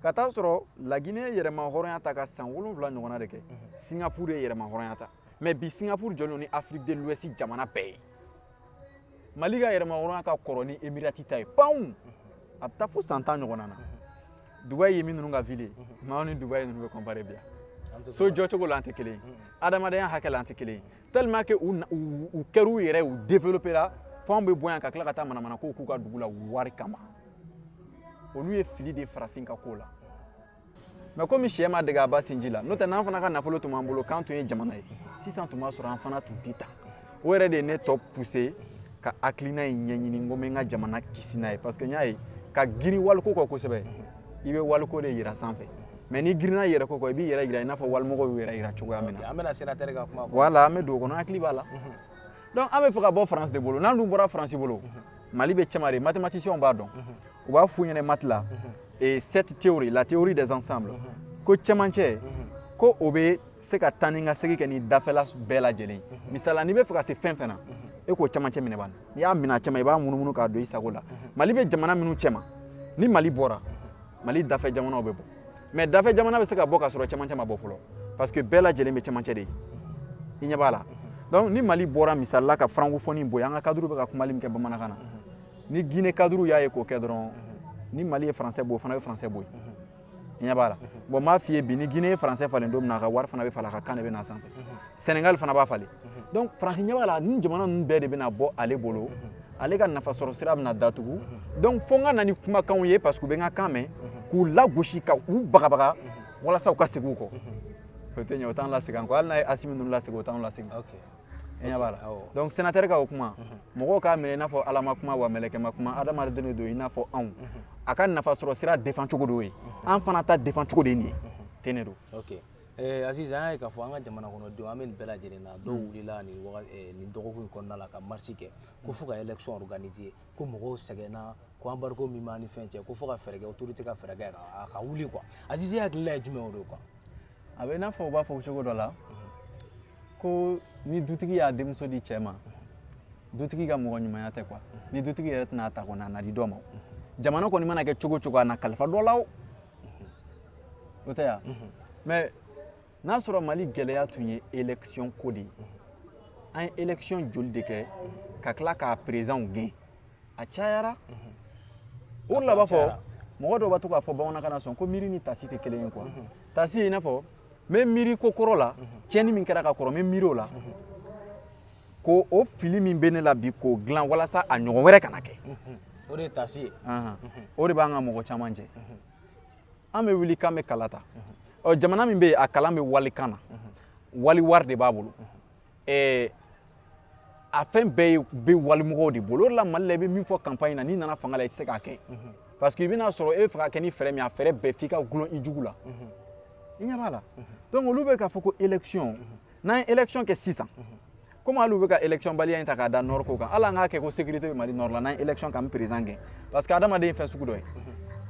ka taa sɔrɔ lagine ye yɛrɛmahɔrɔnya ta ka san wolonwula ɲɔgɔnna de kɛ singapur ye yɛrɛmahɔrɔnya ta mais bi singapur jɔlen ni afrique de l'ouest jamana bɛɛ ye mali ka yɛrɛmahɔrɔnya ka kɔrɔ ni emirati ta ye panw a bɛ taa fo san tan ɲɔgɔnna na dubayi ye min ninnu ka ville ye mais ni dubayi ninnu bɛ comparer bi yan so jɔcogo la an tɛ kelen ye adamadenya hakɛ la an tɛ kelen ye tellement que u u kɛr'u yɛrɛ u développera fo anw bɛ bɔ yan ka tila ka taa manamana kow k'u ka dugu la wari kama olu ye fili de farafin ka ko la mais komi syɛ ma dege a ba sinji la n'o tɛ n'an fana ka nafolo tun b'an bolo k'an tun ye jamana ye sisan tun b'a sɔrɔ an fana tun tɛ ta o yɛrɛ de ye ne tɔ poussé ka hakilina in ɲɛɲini n ko n bɛ n ka jamana kisi n'a ye parce que n y'a ye ka girin waliko kɔ kosɛbɛ i bɛ waliko de yira sanfɛ mais n'i girinna yɛrɛko kɔ i b'i yɛrɛ yira i n'a fɔ walimɔgɔw y'u yɛrɛ yira cogoya min na an bɛna sénateur ka kuma voilà an bɛ don o kɔnɔ hakili b'a la donc an bɛ fɛ ka bɔ france de bolo n'an dun bɔra france bolo mali bɛ cɛma de mathématiciens b'a dɔn u b'a f'u ɲɛna math la cette théorie la théorie des ensembles ko cɛmancɛ ko o bɛ se ka taa ni ka segin kɛ ni dafɛla bɛɛ lajɛlen ye mhm. misala n'i bɛ fɛ ka se fɛn fɛn na mhm. e k'o camancɛ minɛ ban n'i y'a minɛ a cɛma i b'a munumunu k'a don i sago la mhm. mali bɛ jamana minnu cɛma ni mali bɔra mali dafɛ jamanaw bɛ bɔ mais dafɛ jamana bɛ se ka bɔ k'a sɔrɔ cɛmancɛ ma bɔ fɔlɔ parce que bɛɛ lajɛlen bɛ cɛmancɛ de ye i ɲɛ b'a la donc ni mali bɔra misali la ka francophonie bɔ an ka cadre bɛ ka kumali min kɛ bamanankan na ni guinée cadre y'a ye k'o kɛ dɔrɔn ni mali ye français bɔ o fana bɛ français bɔ yen ɲɛ b'a la bon n b'a f'i ye bi ni guinée ye français falen don min na a ka wari fana bɛ falen a ka kan de bɛ na sanfɛ sénégal fana b'a falen donc faransi ɲɛ b'a la nin jamana ninnu bɛɛ de bɛna bɔ ale bolo ale ka nafa sɔrɔ sira bɛna datugu donc fo n ka na ni kumakanw ye parce que u bɛ n ka kan mɛn k'u lagosi ka u bagabaga walasa u ka segin u kɔ o tɛ ɲɛ o t'an lasegin an kɔ hali n'a ye assimi ninnu lasegin o t'an lasegin donc sénateur ka o kuma mɔgɔw k'a minɛ i n'a fɔ ala ma kuma wa mɛlɛkɛ ma kuma adamaden de don i n'a fɔ anw a ka nafa sɔrɔ sira défend cogo de y'o ye an fana ta défend cogo de ye nin ye ten de don eh, Aziz an y'a ye k'a fɔ an ka jamana kɔnɔdenw an bɛ nin bɛɛ lajɛlen na dɔw wulila nin waga eh, nin dɔgɔkun in kɔnɔna la ka marche kɛ ko fo ka élection organiser ko mɔgɔw sɛgɛnna ko embargo min b'an ni fɛn cɛ ko fo ka fɛɛrɛ kɛ autorité ka fɛɛrɛ kɛ a ka wuli quoi Aziz e hakilila ye jumɛn o de ye quoi a bɛ i n'a fɔ u b'a fɔ cogo dɔ la ko ni dutigi y'a denmuso di cɛ ma dutigi ka mɔgɔ ɲumanya tɛ quoi ni dutigi yɛrɛ tɛn'a ta kɔni a na di dɔ ma jamana kɔni mana kɛ cogo cogo a na kalifa dɔ la o o tɛ yan mais n'a sɔrɔ mali gɛlɛya tun ye élection ko de ye an ye élection joli de kɛ ka tila k'a présidentw gɛn a cayara o de la b'a fɔ mɔgɔ dɔw b'a to k'a fɔ bamanankan na sɔn ko miiri ni taasi tɛ kelen ye quoi taasi ye i n'a fɔ n bɛ miiri ko kɔrɔ la tiɲɛni min kɛra ka kɔrɔ n bɛ miiri o la ko o fili min bɛ ne la bi k'o dilan walasa a ɲɔgɔn wɛrɛ kana kɛ o de ye taasi ye o de b'an ka mɔgɔ caman jɛ an bɛ wuli k'an bɛ kala ta ɔ jamana min bɛ yen a kalan bɛ walikan na wali wari de b'a bolo eh, a fɛn bɛɛ bɛ walimɔgɔw de bolo o de la mali la i bɛ min fɔ campagne na n'i nana fanga la i tɛ se k'a kɛ mhm. parce que i bɛn'a sɔrɔ e bɛ fɛ k'a kɛ ni fɛɛrɛ min a fɛɛrɛ bɛɛ f'i ka gulon i jugu la mhm. i ɲɛ b'a la mhm. donc olu bɛ k'a fɔ ko élection n'an ye élection kɛ sisan komi hali u bɛ ka élection baliya in ta k'a da nord ko kan hali an k'a kɛ ko sécurité bɛ mali nord la n'an ye élection kɛ an bɛ président gɛn parce que adamaden ye fɛn sugu dɔ ye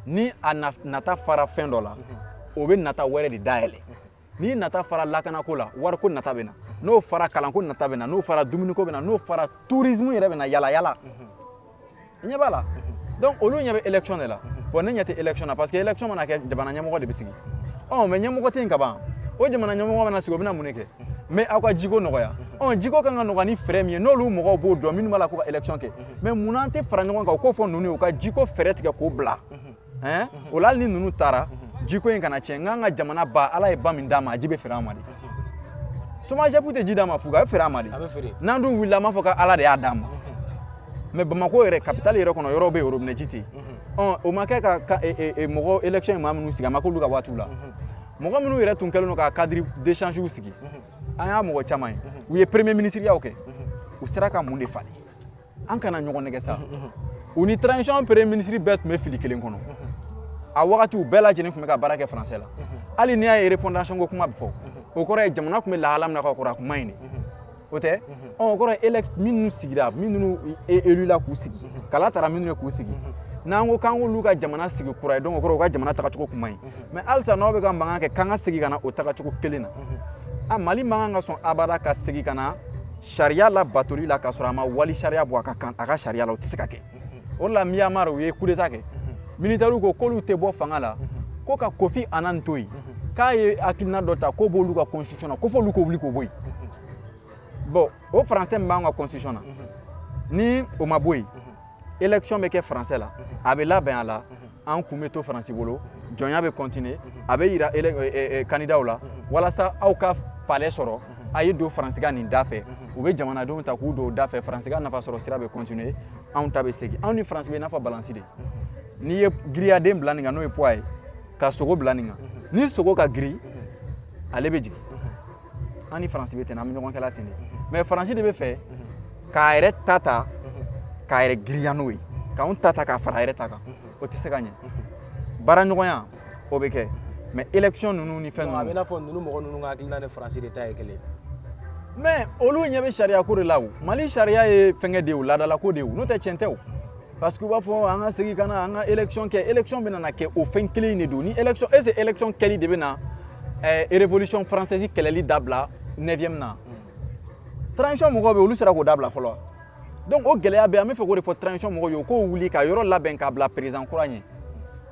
ni a nata fara fɛn dɔ la o bɛ nata wɛrɛ de dayɛlɛ n'i nata fara lakanako la wariko nata bɛ na n'o fara kalanko nata bɛ na n'o fara dumuniko bɛ na n'o fara tourisme yɛrɛ bɛ na yalayala i ɲɛ b'a la donc olu ɲɛ bɛ élection de la bon ne ɲɛ tɛ élection na parce que élection mana kɛ jamana ɲɛmɔgɔ de bɛ sigi ɔ mais ɲɛmɔgɔ tɛ yen ka ban o jamana ɲɛmɔgɔ mana sigi o bɛna mun de kɛ mais aw ka jiko nɔgɔya ɔ jiko kan ka nɔgɔya ni fɛɛrɛ min ye n'olu mɔgɔw b'o dɔn minnu b'a la k'u ka élection kɛ mais mun na an tɛ fara ɲɔgɔn kan u k'o fɔ ninnu ye u ka jiko fɛɛrɛ tigɛ k'o bila ɛn o la hali ni ninnu taara jiko in kana tiɲɛ n k'an ka jamana ba ala ye ba min d'an ma a ji bɛ feere an ma de somagep tɛ ji d'an ma fuga a bɛ feere an ma de n'an dun wulila an b'a fɔ ko ala de y'a d'an ma mais bamako yɛrɛ kapitali yɛrɛ kɔnɔ yɔrɔw bɛ yen robinɛ ji tɛ yen ɔ o ma kɛ ka mɔgɔ élection ye maa minnu sigi a ma k'olu ka waatiw la mɔgɔ minnu yɛrɛ tun kɛlen don ka cadre d'échange sigi an y'a mɔgɔ caman ye u ye premier ministiriyaw kɛ u sera ka mun de falen an kana ɲɔgɔn nɛgɛn sa u ni transition premier ministre bɛɛ tun bɛ fili kelen kɔnɔ a wagati u bɛɛ lajɛlen tun bɛ ka baara kɛ français la hali n'i y'a ye refondation ko kuma bɛ fɔ o kɔrɔ ye jamana tun bɛ lahala min na ka kɔrɔ a kun man ɲi de o tɛ o kɔrɔ ye minnu sigira minnu élu la k'u sigi kala tara minnu ye k'u sigi n'an ko k'an k'olu ka jamana sigi kura ye donc o kɔrɔ u ka jamana tagacogo kun man ɲi mais halisa n'aw bɛ ka mankan kɛ k'an ka segin ka na o tagacogo kelen na a mali man kan ka sɔn abada ka segin ka na sariya labatoli la k'a sɔrɔ a ma wali sariya bɔ a ka sariya la o tɛ se ka kɛ o de la myanmar u ye kudeta kɛ militɛriw ko k'olu tɛ bɔ fanga la ko ka kofi annan to yen k'a ye hakilina dɔ ta k'o b'olu ka constitution na ko f'olu k'o wuli k'o bɔ yen bon o français min b'an ka constitution na ni o ma bɔ yen élection bɛ kɛ français la a bɛ labɛn a la an kun bɛ to faransi bolo jɔnya bɛ kɔntine a bɛ yira kandidaw la walasa aw ka palɛ sɔrɔ a ye don faransikan nin da fɛ u bɛ jamanadenw ta k'u don da fɛ faransi ka nafa sɔrɔ sira bɛ kɔntine anw ta bɛ segin anw ni faransi bɛ n'a fɔ balansi de n'i ye giriyaden bila nin kan n'o ye puwa ye ka sogo bila nin kan ni sogo ka giri ale bɛ jigin an ni faransi bɛ ten an bɛ ɲɔgɔn kɛla ten de mais faransi de bɛ fɛ k'a yɛrɛ ta ta k'a yɛrɛ girinya n'o ye k'anw ta ta k'a fara a yɛrɛ ta kan o tɛ se ka ɲɛ baaraɲɔgɔnya o bɛ kɛ mais élection ninnu ni fɛn ninnu a bɛ i n'a fɔ ninnu mɔgɔ ninnu ka hakilina ni faransi de ta ye kelen mais olu ɲɛ bɛ sariyako de la o mali sariya ye fɛnkɛ de ye o laadalako de ye o n'o tɛ tiɲɛ tɛ o parce que u b'a fɔ an ka segin ka na an ka élection kɛ élection bɛna na kɛ o fɛn kelen in de don ni élection est ce que élection kɛli de bɛ na eh, révolution française kalanni dabila 9e na transition mɔgɔw bɛ olu sera k'o dabila fɔlɔ donc o gɛlɛya bɛ an bɛ fɛ k'o de fɔ transition mɔgɔw ye u k'o wuli ka yɔrɔ labɛn k'a bila président kura ɲɛ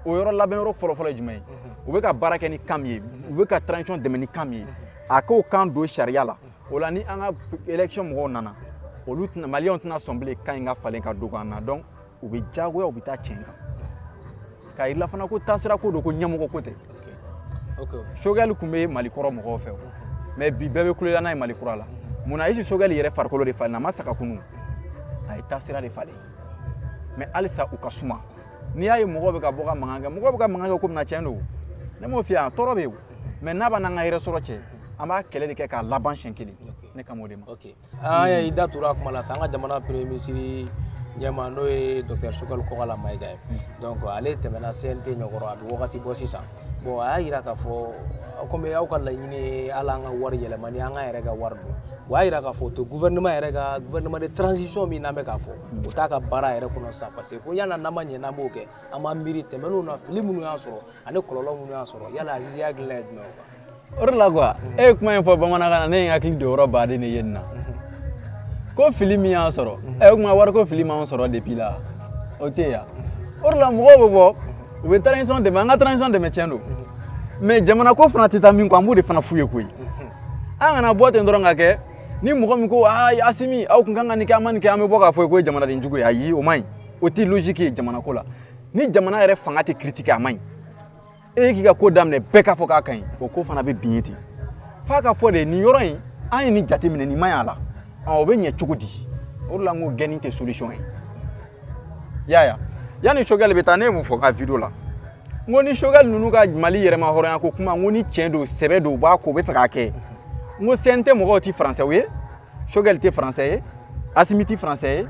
o yɔrɔ labɛn yɔrɔ fɔlɔfɔlɔ ye jumɛn ye u bɛ ka baara kɛ ni kan min ye u bɛ ka transition dɛmɛ ni kan min ye a k'o kan don sariya la o la ni an ka élection mɔgɔw nana olu tɛna maliyɛnw tɛna sɔn bilen kan in ka falen ka dogo an na donc u bɛ diyagoya u bɛ taa tiɲɛ kan k'a yir'an na fana ko taasira ko don ko ɲɛmɔgɔ ko tɛ choguel tun bɛ mali kɔrɔ mɔgɔw fɛ mais bi bɛɛ bɛ kulela n'a ye mali kura la mun na est-ce choguel yɛrɛ farikolo de falen a ma sa ka kunu a ye taasira de falen mais halisa u ka suma n'i y'a ye mɔgɔw bɛ ka bɔ ka mankan kɛ mɔgɔw bɛ ka mankan kɛ ko min na tiɲɛ don ne m'o f'i ye a tɔɔrɔ bɛ yen mais n'a b'an n'an ka yɛrɛ sɔrɔ cɛ an b'a kɛlɛ de kɛ k'a laban siɲɛ kelen ne kan o de ma an y'a i da tora a kuma la sa an ka jamana premier ministre ɲɛmaa n'o ye docteur choguel kɔkala mayiga ye hmm. donc ale tɛmɛna cnt ɲɛkɔrɔ a bɛ wagati bɔ sisan bon a y'a yira k'a fɔ comme aw ka laɲini ye hali an ka wari yɛlɛma ni an ka yɛrɛ ka wari don o y'a yira k'a fɔ o t'o gouvernement yɛrɛ ka gouvernement de transition min n'an bɛ k'a fɔ o t'a ka baara yɛrɛ kɔnɔ sisan parce que ko yala n'an ma yanni an b'o kɛ an b'an miiri tɛmɛnenw na fili minnu y'an sɔrɔ ani kɔlɔlɔ minnu y'an sɔrɔ yala Azizi hakilina ye jumɛn ye o de la quoi e ye kuma in fɔ bamanankan na ne ye n hakili don yɔrɔ baden de ye nin na ko fili min y'an sɔrɔ ɛ o tuma wari ko fili m'an sɔrɔ depuis la o tɛ yan o de la mɔgɔw bɛ bɔ u bɛ transition dɛmɛ an ka transition dɛmɛ tiɲɛ don mais jamana ko fana tɛ taa min kɔ an b'o de fana f'u ye koyi an kana bɔ ten dɔrɔn ka kɛ ni mɔgɔ min ko aa asimi aw tun kan ka nin kɛ an ma nin kɛ an bɛ bɔ k'a f'o ye k'o ye jamanaden jugu ye ayi o man ɲi o tɛ logique ye jamana ko la ni jamana yɛrɛ fanga tɛ critiquer a man ɲi e ye k'i ka ko daminɛ bɛɛ k'a fɔ k'a ka ɲi o ko fana bɛ bin ye ten f'a ka fɔ de nin yɔrɔ in an ye nin jate minɛ nin man ɲi a la o bɛ ɲɛ cogo di o de la n ko gɛnni tɛ solution ye yaya yanni choguel bɛ taa ne ye mun fɔ n ka video la n ko ni choguel ninnu ka mali yɛrɛmahɔrɔnya ko kuma n ko ni tiɲɛ don sɛbɛ don u b'a ko u bɛ fɛ k'a kɛ n ko cnt mɔgɔw tɛ français ye choguel tɛ français ye asimi tɛ français ye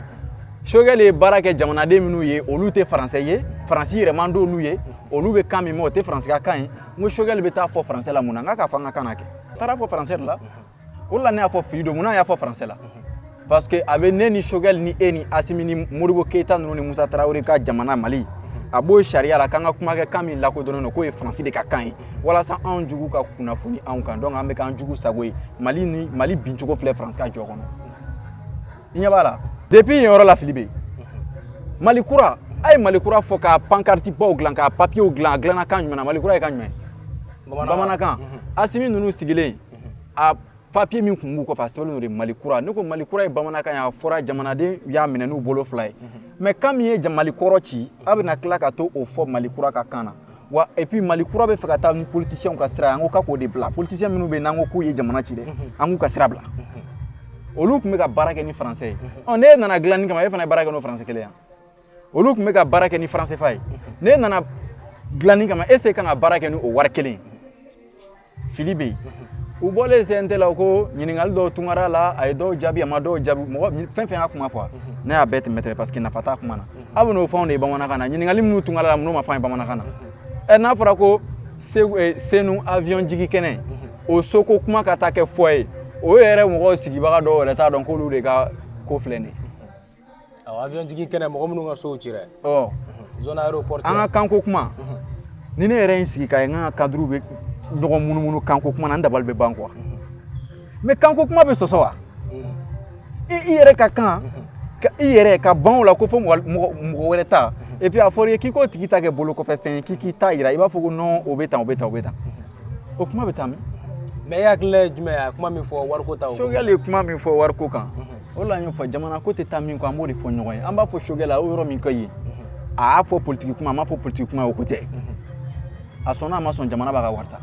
choguel ye baara kɛ jamanaden minnu ye olu tɛ français ye faransi yɛrɛ man d'olu ye olu bɛ kan min mɛn o tɛ faransi ka kan ye n ko choguel bɛ taa fɔ français la mun na n k'a k'a fɔ an ka kan na kɛ a taara fɔ français de la o de la ne y'a fɔ fili don mun na y'a fɔ français la parce que a bɛ ne ni choguel ni e ni asimi ni modibo keyita ninnu ni musa tarawele ka jamana mali a b'o sariya la k'an ka kuma kɛ kan min lakodɔnnen don k'o ye faransi de ka kan ye walasa anw jugu ka kunnafoni anw kan donc an bɛ k'an jugu sago ye mali bincogo filɛ faransi ka jɔ kɔnɔ i ɲɛ b'a la depuis yen yɔrɔ la fili bɛ yen mali kura a ye mali kura fɔ ka pancarte baw dilan ka papiers dilan a dilanna kan jumɛn na mali kura ye kan jumɛn bamanankan mhm. asimi ninnu sigilen mhm. a papier min tun b'u kɔfɛ a sɛbɛnlen don de mali kura ne ko mali kura ye bamanankan ye a fɔra jamanaden y'a minɛ n'u bolo fila ye mais mhm. kan min ye mali kɔrɔ ci a bɛna tila ka t'o fɔ mali kura ka kan na wa et puis mali kura bɛ fɛ ka taa ni politiciens ka sira ye an ko k'a k'o de bila politiciens minnu bɛ yen n'an ko k'u ye jamana ci dɛ mhm. an k'u ka sira bila mhm. olu tun bɛ ka baara kɛ ni français ye mhm. ɔ n'e nana dilanni kama e fana ye baara kɛ n'o français kelen ye wa olu tun bɛ ka baara kɛ ni franc cfa ye n'e nana dilanni kama est-ce e kan ka baara kɛ ni o wari kelen ye fili bɛ yen u bɔlen CNT la ko ɲininkali dɔw tun kɛra a la a ye dɔw jaabi a ma dɔw jaabi mɔgɔ fɛn fɛn y'a kuma fɔ ne y'a bɛɛ tɛmɛ tɛmɛ parce que nafa t'a kuma na aw bɛ n'o fɛnw de ye bamanankan na ɲininkali minnu tun kɛra a la minnu ma fɔ an ye bamanankan na ɛ n'a fɔra ko Senu avion jigi kɛnɛ o soko kuma ka taa kɛ fɔ ye o yɛrɛ mɔgɔw sigibaga dɔw yɛrɛ t'a dɔn k'olu de ka ko filɛ nin ye avion jigi kɛnɛ mɔgɔ minnu ka sow ci dɛ ɔ zone aéroport an ka kanko kuma ni ne yɛrɛ ye n sigi k'a ye an ka cadrew bɛ ɲɔgɔn munumunu kanko kuma na n dabali bɛ ban quoi mais kanko kuma bɛ sɔsɔ wa i i yɛrɛ ka kan i yɛrɛ ka ban o la ko fo mɔgɔ mɔgɔ wɛrɛ ta et puis a fɔra i ye k'i k'o tigi ta kɛ bolo kɔfɛ fɛn ye k'i k'i ta yira i b'a fɔ ko non o bɛ tan o bɛ tan o bɛ tan o kuma bɛ taa min mais e hakilila ye jumɛn ye a kuma min fɔ wariko ta Choguel ye kuma min fɔ wariko kan o la n y'o fɔ jamana ko tɛ taa min kɔ an b'o de fɔ ɲɔgɔn ye an b'a fɔ Choguel a y'o yɔrɔ min ka ye a y'a fɔ politiki kuma a m'a fɔ politiki kuma o ko tɛ a sɔnna a ma sɔn jamana b'a ka wari ta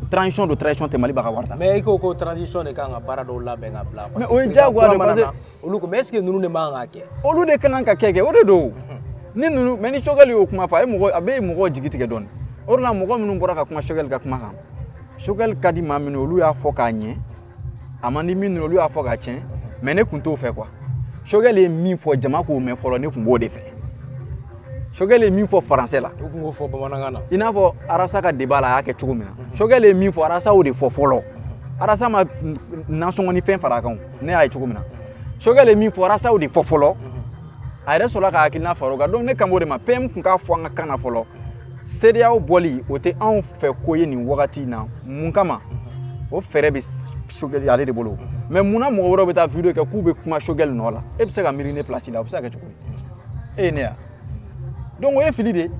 transition don transition tɛ Mali b'a ka wari ta mais i ko ko transition de kan ka baara dɔw labɛn ka bila o ye diyagoya de parce que olu ko est-ce que ninnu de man kan ka kɛ olu de ka kan ka kɛ kɛ o de don mhm. ni ninnu mais ni Choguel y'o kuma fɔ a ye mɔgɔ a bɛ mɔgɔ jigi tigɛ dɔɔni o de la mɔgɔ minnu bɔra ka kuma Choguel ka kuma kan Choguel ka di maa minnu olu y'a fɔ k'a ɲɛ a man di minnu olu y'a fɔ k'a tiɲɛ mais ne tun t'o fɛ quoi Choguel ye min fɔ jama k'o mɛn fɔlɔ ne tun b'o de fɛ Choguel ye min fɔ français la u tun k'o fɔ bamanankan na i n'a fɔ Arasa ka débat la a y'a kɛ cogo min na mhm. Choguel ye min fɔ Arasa y'o de fɔ fɔlɔ Arasa ma nasɔngɔ ni fɛn fara a kan ne y'a ye cogo min na Choguel ye min fɔ Arasa y'o de fɔ fɔlɔ a yɛrɛ sɔrɔla ka hakilina fara o kan donc ne kan b'o de ma PM tun k'a fɔ an ka kan na fɔlɔ CEDEAO bɔli o tɛ anw fɛ ko ye nin wagati in na mun kama o fɛɛrɛ bɛ Choguel ale de bolo mais mun na mɔgɔ wɛrɛw bɛ taa video kɛ k'u bɛ kuma Choguel nɔ la e bɛ se ka miiri ne place la o bɛ se ka kɛ cogo di e ye ne ya donc o ye fili de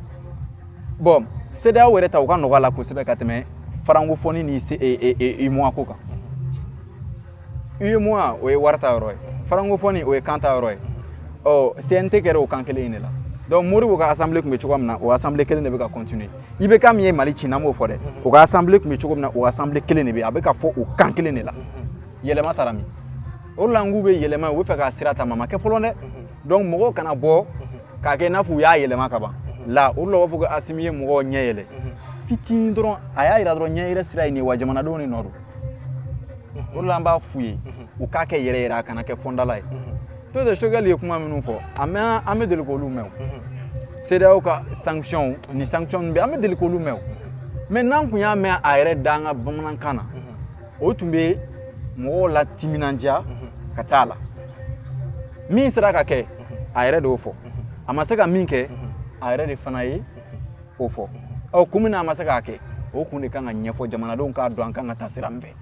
bon CEDEAO yɛrɛ ta u ka nɔgɔ a la kosɛbɛ ka tɛmɛ francophonie ni UEMOA ko kan UEMOA o ye wari ta yɔrɔ ye francophonie o ye kan ta yɔrɔ ye ɔ CNT kɛra o kan kelen in de la donc Modibo ka assemblée tun bɛ cogo min na o assemblée kelen de bɛ ka continuer IBK min ye Mali ci n'an b'o fɔ dɛ o ka assemblée tun bɛ cogo min na o assemblée kelen de bɛ a bɛ ka fɔ o kan kelen de la yɛlɛma taara min o de la n k'u bɛ yɛlɛma u bɛ fɛ k'a sira ta mais a ma kɛ fɔlɔ dɛ donc mɔgɔw kana bɔ k'a kɛ i n'a fɔ u y'a yɛlɛma ka ban la o de la u b'a fɔ ko Asimi ye mɔgɔw ɲɛ yɛlɛ fitinin dɔrɔn a y'a jira dɔrɔn ɲɛ yɛrɛ sira ye nin ye wa jamanadenw de nɔ don o de la an b'a f'u ye u k'a kɛ yɛrɛ yɛrɛ a kana kɛ fɔndala ye n'o tɛ Choguel ye kuma minnu fɔ an bɛ deli k'olu mɛn CEDEAO ka sanctions ni sanctions bɛɛ an bɛ deli k'olu mɛn mais n'an kun y'a mɛn a yɛrɛ da an ka bamanankan na o tun bɛ mɔgɔw latiminandiya ka taa la min sera ka kɛ a yɛrɛ de y'o fɔ a ma se ka min kɛ a yɛrɛ de fana ye k'o fɔ ɔ kun min na a ma se k'a kɛ o kun de kan ka ɲɛfɔ jamanadenw k'a dɔn an kan ka taa sira min fɛ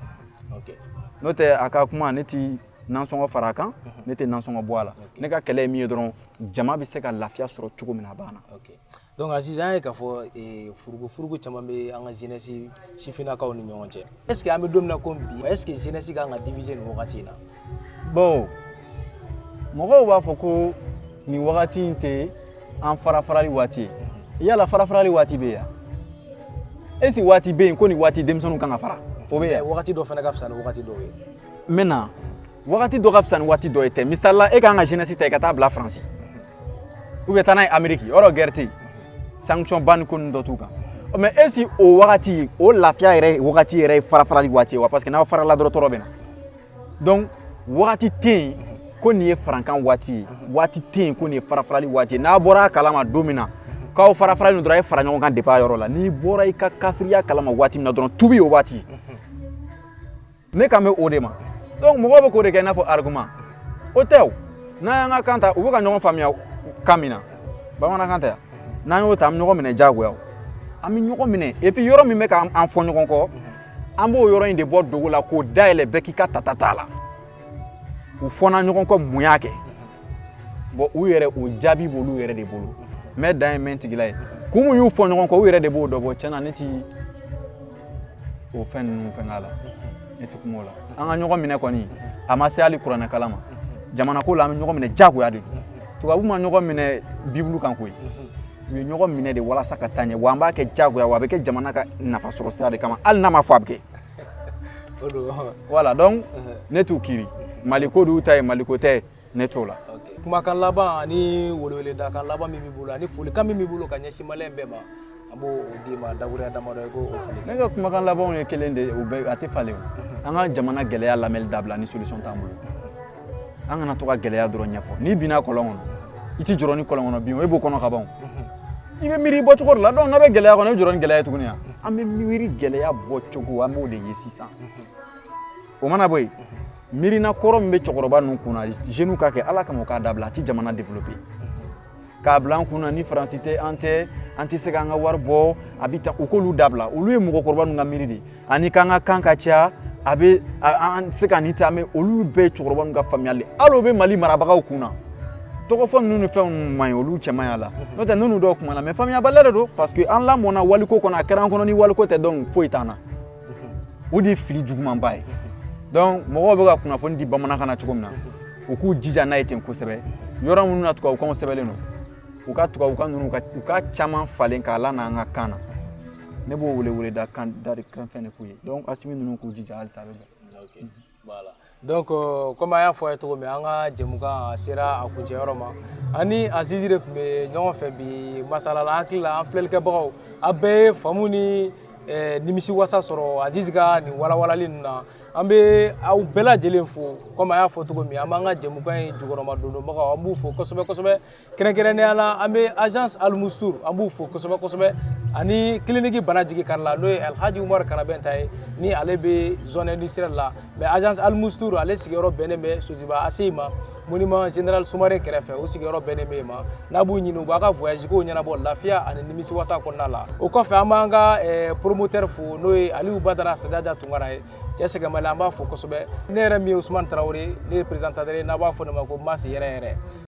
n'o tɛ a ka kuma ne ti nansɔngɔ fara a kan mhm. ne tɛ nansɔngɔ bɔ a la ne ka kɛlɛ ye min ye dɔrɔn jama bɛ se ka lafiya sɔrɔ cogo min na a banna donc aziz an ye k'a fɔ eh, furugu furugu caman bɛ an ka jeunesse sifinnakaw ni ɲɔgɔn cɛ est ce que an bɛ don min na komi bi est ce que jeunesse ka kan ka diviser nin wagati in na bon mɔgɔw b'a fɔ ko nin wagati in tɛ an farafarali waati ye yala farafarali waati bɛ yan est ce waati bɛ yen ko nin waati denmisɛnninw kan ka fara o bɛ yan wagati dɔ fana ka fisa ni wagati dɔw ye maintenant wagati dɔ ka fisa ni waati dɔ ye tɛ misali la e ka kan ka jeunesse ta i ka taa bila faransi ou bien taa n'a ye ameriki yɔrɔ guerre tɛ yen sanction ba ni ko ninnu dɔ t'u kan mais est ce o wagati o lafiya yɛrɛ wagati yɛrɛ ye farafarali waati ye wa parce que n'aw farala dɔrɔn tɔɔrɔ bɛ na donc wagati tɛ yen ko nin ye farankan waati ye waati tɛ yen ko nin ye farafarali waati ye n'a bɔra a kalama don min na k'aw farafaralen dɔrɔn a ye fara ɲɔgɔn kan depuis a yɔrɔ la n'i bɔra i ka kafiriya kalama waati min na dɔrɔn tubi o waati ne kan bɛ o de ma donc mɔgɔw bɛ k'o de kɛ i n'a fɔ argument o tɛ o n'an y'an ka kan ta u bɛ ka ɲɔgɔn faamuya kan min na bamanankan tɛ yan n'an y'o ta an bɛ ɲɔgɔn minɛ diyagoya an bɛ ɲɔgɔn minɛ et puis yɔrɔ min bɛ k'an fɔ ɲɔgɔn kɔ an b'o yɔrɔ in de bɔ dogo la k'o dayɛlɛ bɛɛ k'i ka tata t'a la u fɔna ɲɔgɔn kɔ mun y'a kɛ bon u yɛrɛ o jaabi b'olu yɛrɛ de bolo mais dan ye mɛn tigila ye kun mun y'u fɔ ɲɔgɔn kɔ u yɛrɛ de b'o dɔn bon tiɲɛ na ne ti o fɛn ninnu fɛn k'a la ne ti kuma o la an ka ɲɔgɔn minɛ kɔni a ma se hali kuranɛ kalan ma jamanako la an bɛ ɲɔgɔn minɛ diyagoya de don tubabuw ma ɲɔgɔn minɛ bibulu kan koyi u ye ɲɔgɔn minɛ de walasa ka taa ɲɛ wa an b'a kɛ jagoya wa a bɛ kɛ jamana ka nafasɔrɔ sira de kama hali n'a ma fɔ a bɛ kɛ voilà donc uh-huh. ne t'u kiri maliko de y'u ta ye maliko tɛ ne t'o la kumakan laban ani weleweledakan laban min b'i bolo ani folikan min b'i bolo ka ɲɛsin maliyɛn bɛɛ ma an b'o d'i ma dakuruɲa damadɔ i k'o fili ne ka kumakan labanw ye kelen de ye u bɛɛ a tɛ falen o an ka jamana gɛlɛya lamɛnni dabila ni solution t'an bolo an kana to ka gɛlɛya dɔrɔn ɲɛfɔ n'i binna kɔlɔn kɔnɔ i ti jɔrɔ ni kɔlɔn kɔnɔ bin o e b'o kɔnɔ ka ban mhm. i bɛ miiri bɔ cogo de la donc n'an bɛ gɛlɛya kɔnɔ i bɛ jɔrɔ ni gɛlɛya ye tuguni yan mhm. an bɛ miiri gɛlɛya bɔ cogo an b'o de ye sisan mhm. o mana bɔ yen miirina kɔrɔ min bɛ cɛkɔrɔba ninnu kun na jeunes k'a kɛ ala kama u k'a dabila a ti jamana développer k'a bila an kun na ni faransi tɛ an tɛ an tɛ se k'an ka wari bɔ a bɛ ta u k'olu dabila olu ye mɔgɔkɔrɔba ninnu ka miiri de ani k'an ka kan ka ca a bɛ an tɛ se ka nin ta mais olu bɛɛ ye cɛkɔrɔba ninnu ka faamuyali de hali o bɛ mali marabagaw kun na tɔgɔ fɔ ninnu ni fɛn ninnu man ɲi olu cɛ man ɲi a la n'o tɛ n'olu dɔw kumana mais faamuyabaliya de don parce que an lamɔna waliko kɔnɔ a kɛra an kɔnɔ ni waliko tɛ donc foyi t'an na o de ye fili jugumanba ye donc mɔgɔw bɛ ka kunnafoni di bamanankan na cogo min na u k'u jija n'a ye ten kosɛbɛ yɔrɔ minnu na tubabukanw sɛbɛnlen don u ka tubabukan ninnu u ka caman falen k'a lana an ka kan na ne b'o welewele da kan da de kan fɛn de k'u ye donc Asimi ninnu k'u jija halisa a bɛ bɛn Voilà donc euh, comme an y'a fɔ a ye cogo min an ka jɛmukan a sera a kuncɛyɔrɔ ma an ni Azizi de tun bɛ ɲɔgɔn fɛ bi masala la an hakili la an filɛlikɛbagaw a bɛɛ ye faamu ni eh, nimisiwasa sɔrɔ Azizi ka nin walawalali ninnu na an bɛ aw bɛɛ lajɛlen fo comme an y'a fɔ cogo min an b'an ka jɛmukan in jukɔrɔmadondonbagaw an b'u fo kosɛbɛ kosɛbɛ kɛrɛnkɛrɛnnenya la an bɛ agence alimustur an b'u fo kosɛbɛ kosɛbɛ ani clinique bana jigi kari la n'o ye alhaji umaru karabɛnta ye ni ale bɛ zone industrielle la mais agence alimustur ale sigiyɔrɔ bɛnnen bɛ sotiba ACI ma monument général sumare kɛrɛfɛ o sigiyɔrɔ bɛnnen bɛ yen ma n'a b'u ɲini u b'a ka voyage kow ɲɛnabɔ lafiya ani nimisiwasa kɔnɔna la o kɔfɛ an b'an ka eh, promoteur fo n'o ye aliyu badara sadaja tunkara ye cɛ sɛgɛnbali an b'a fo kosɛbɛ ne yɛrɛ min ye usumani tarawele ne ye présentateur ye n'a b'a fɔ ne ma ko mas yɛrɛ yɛrɛ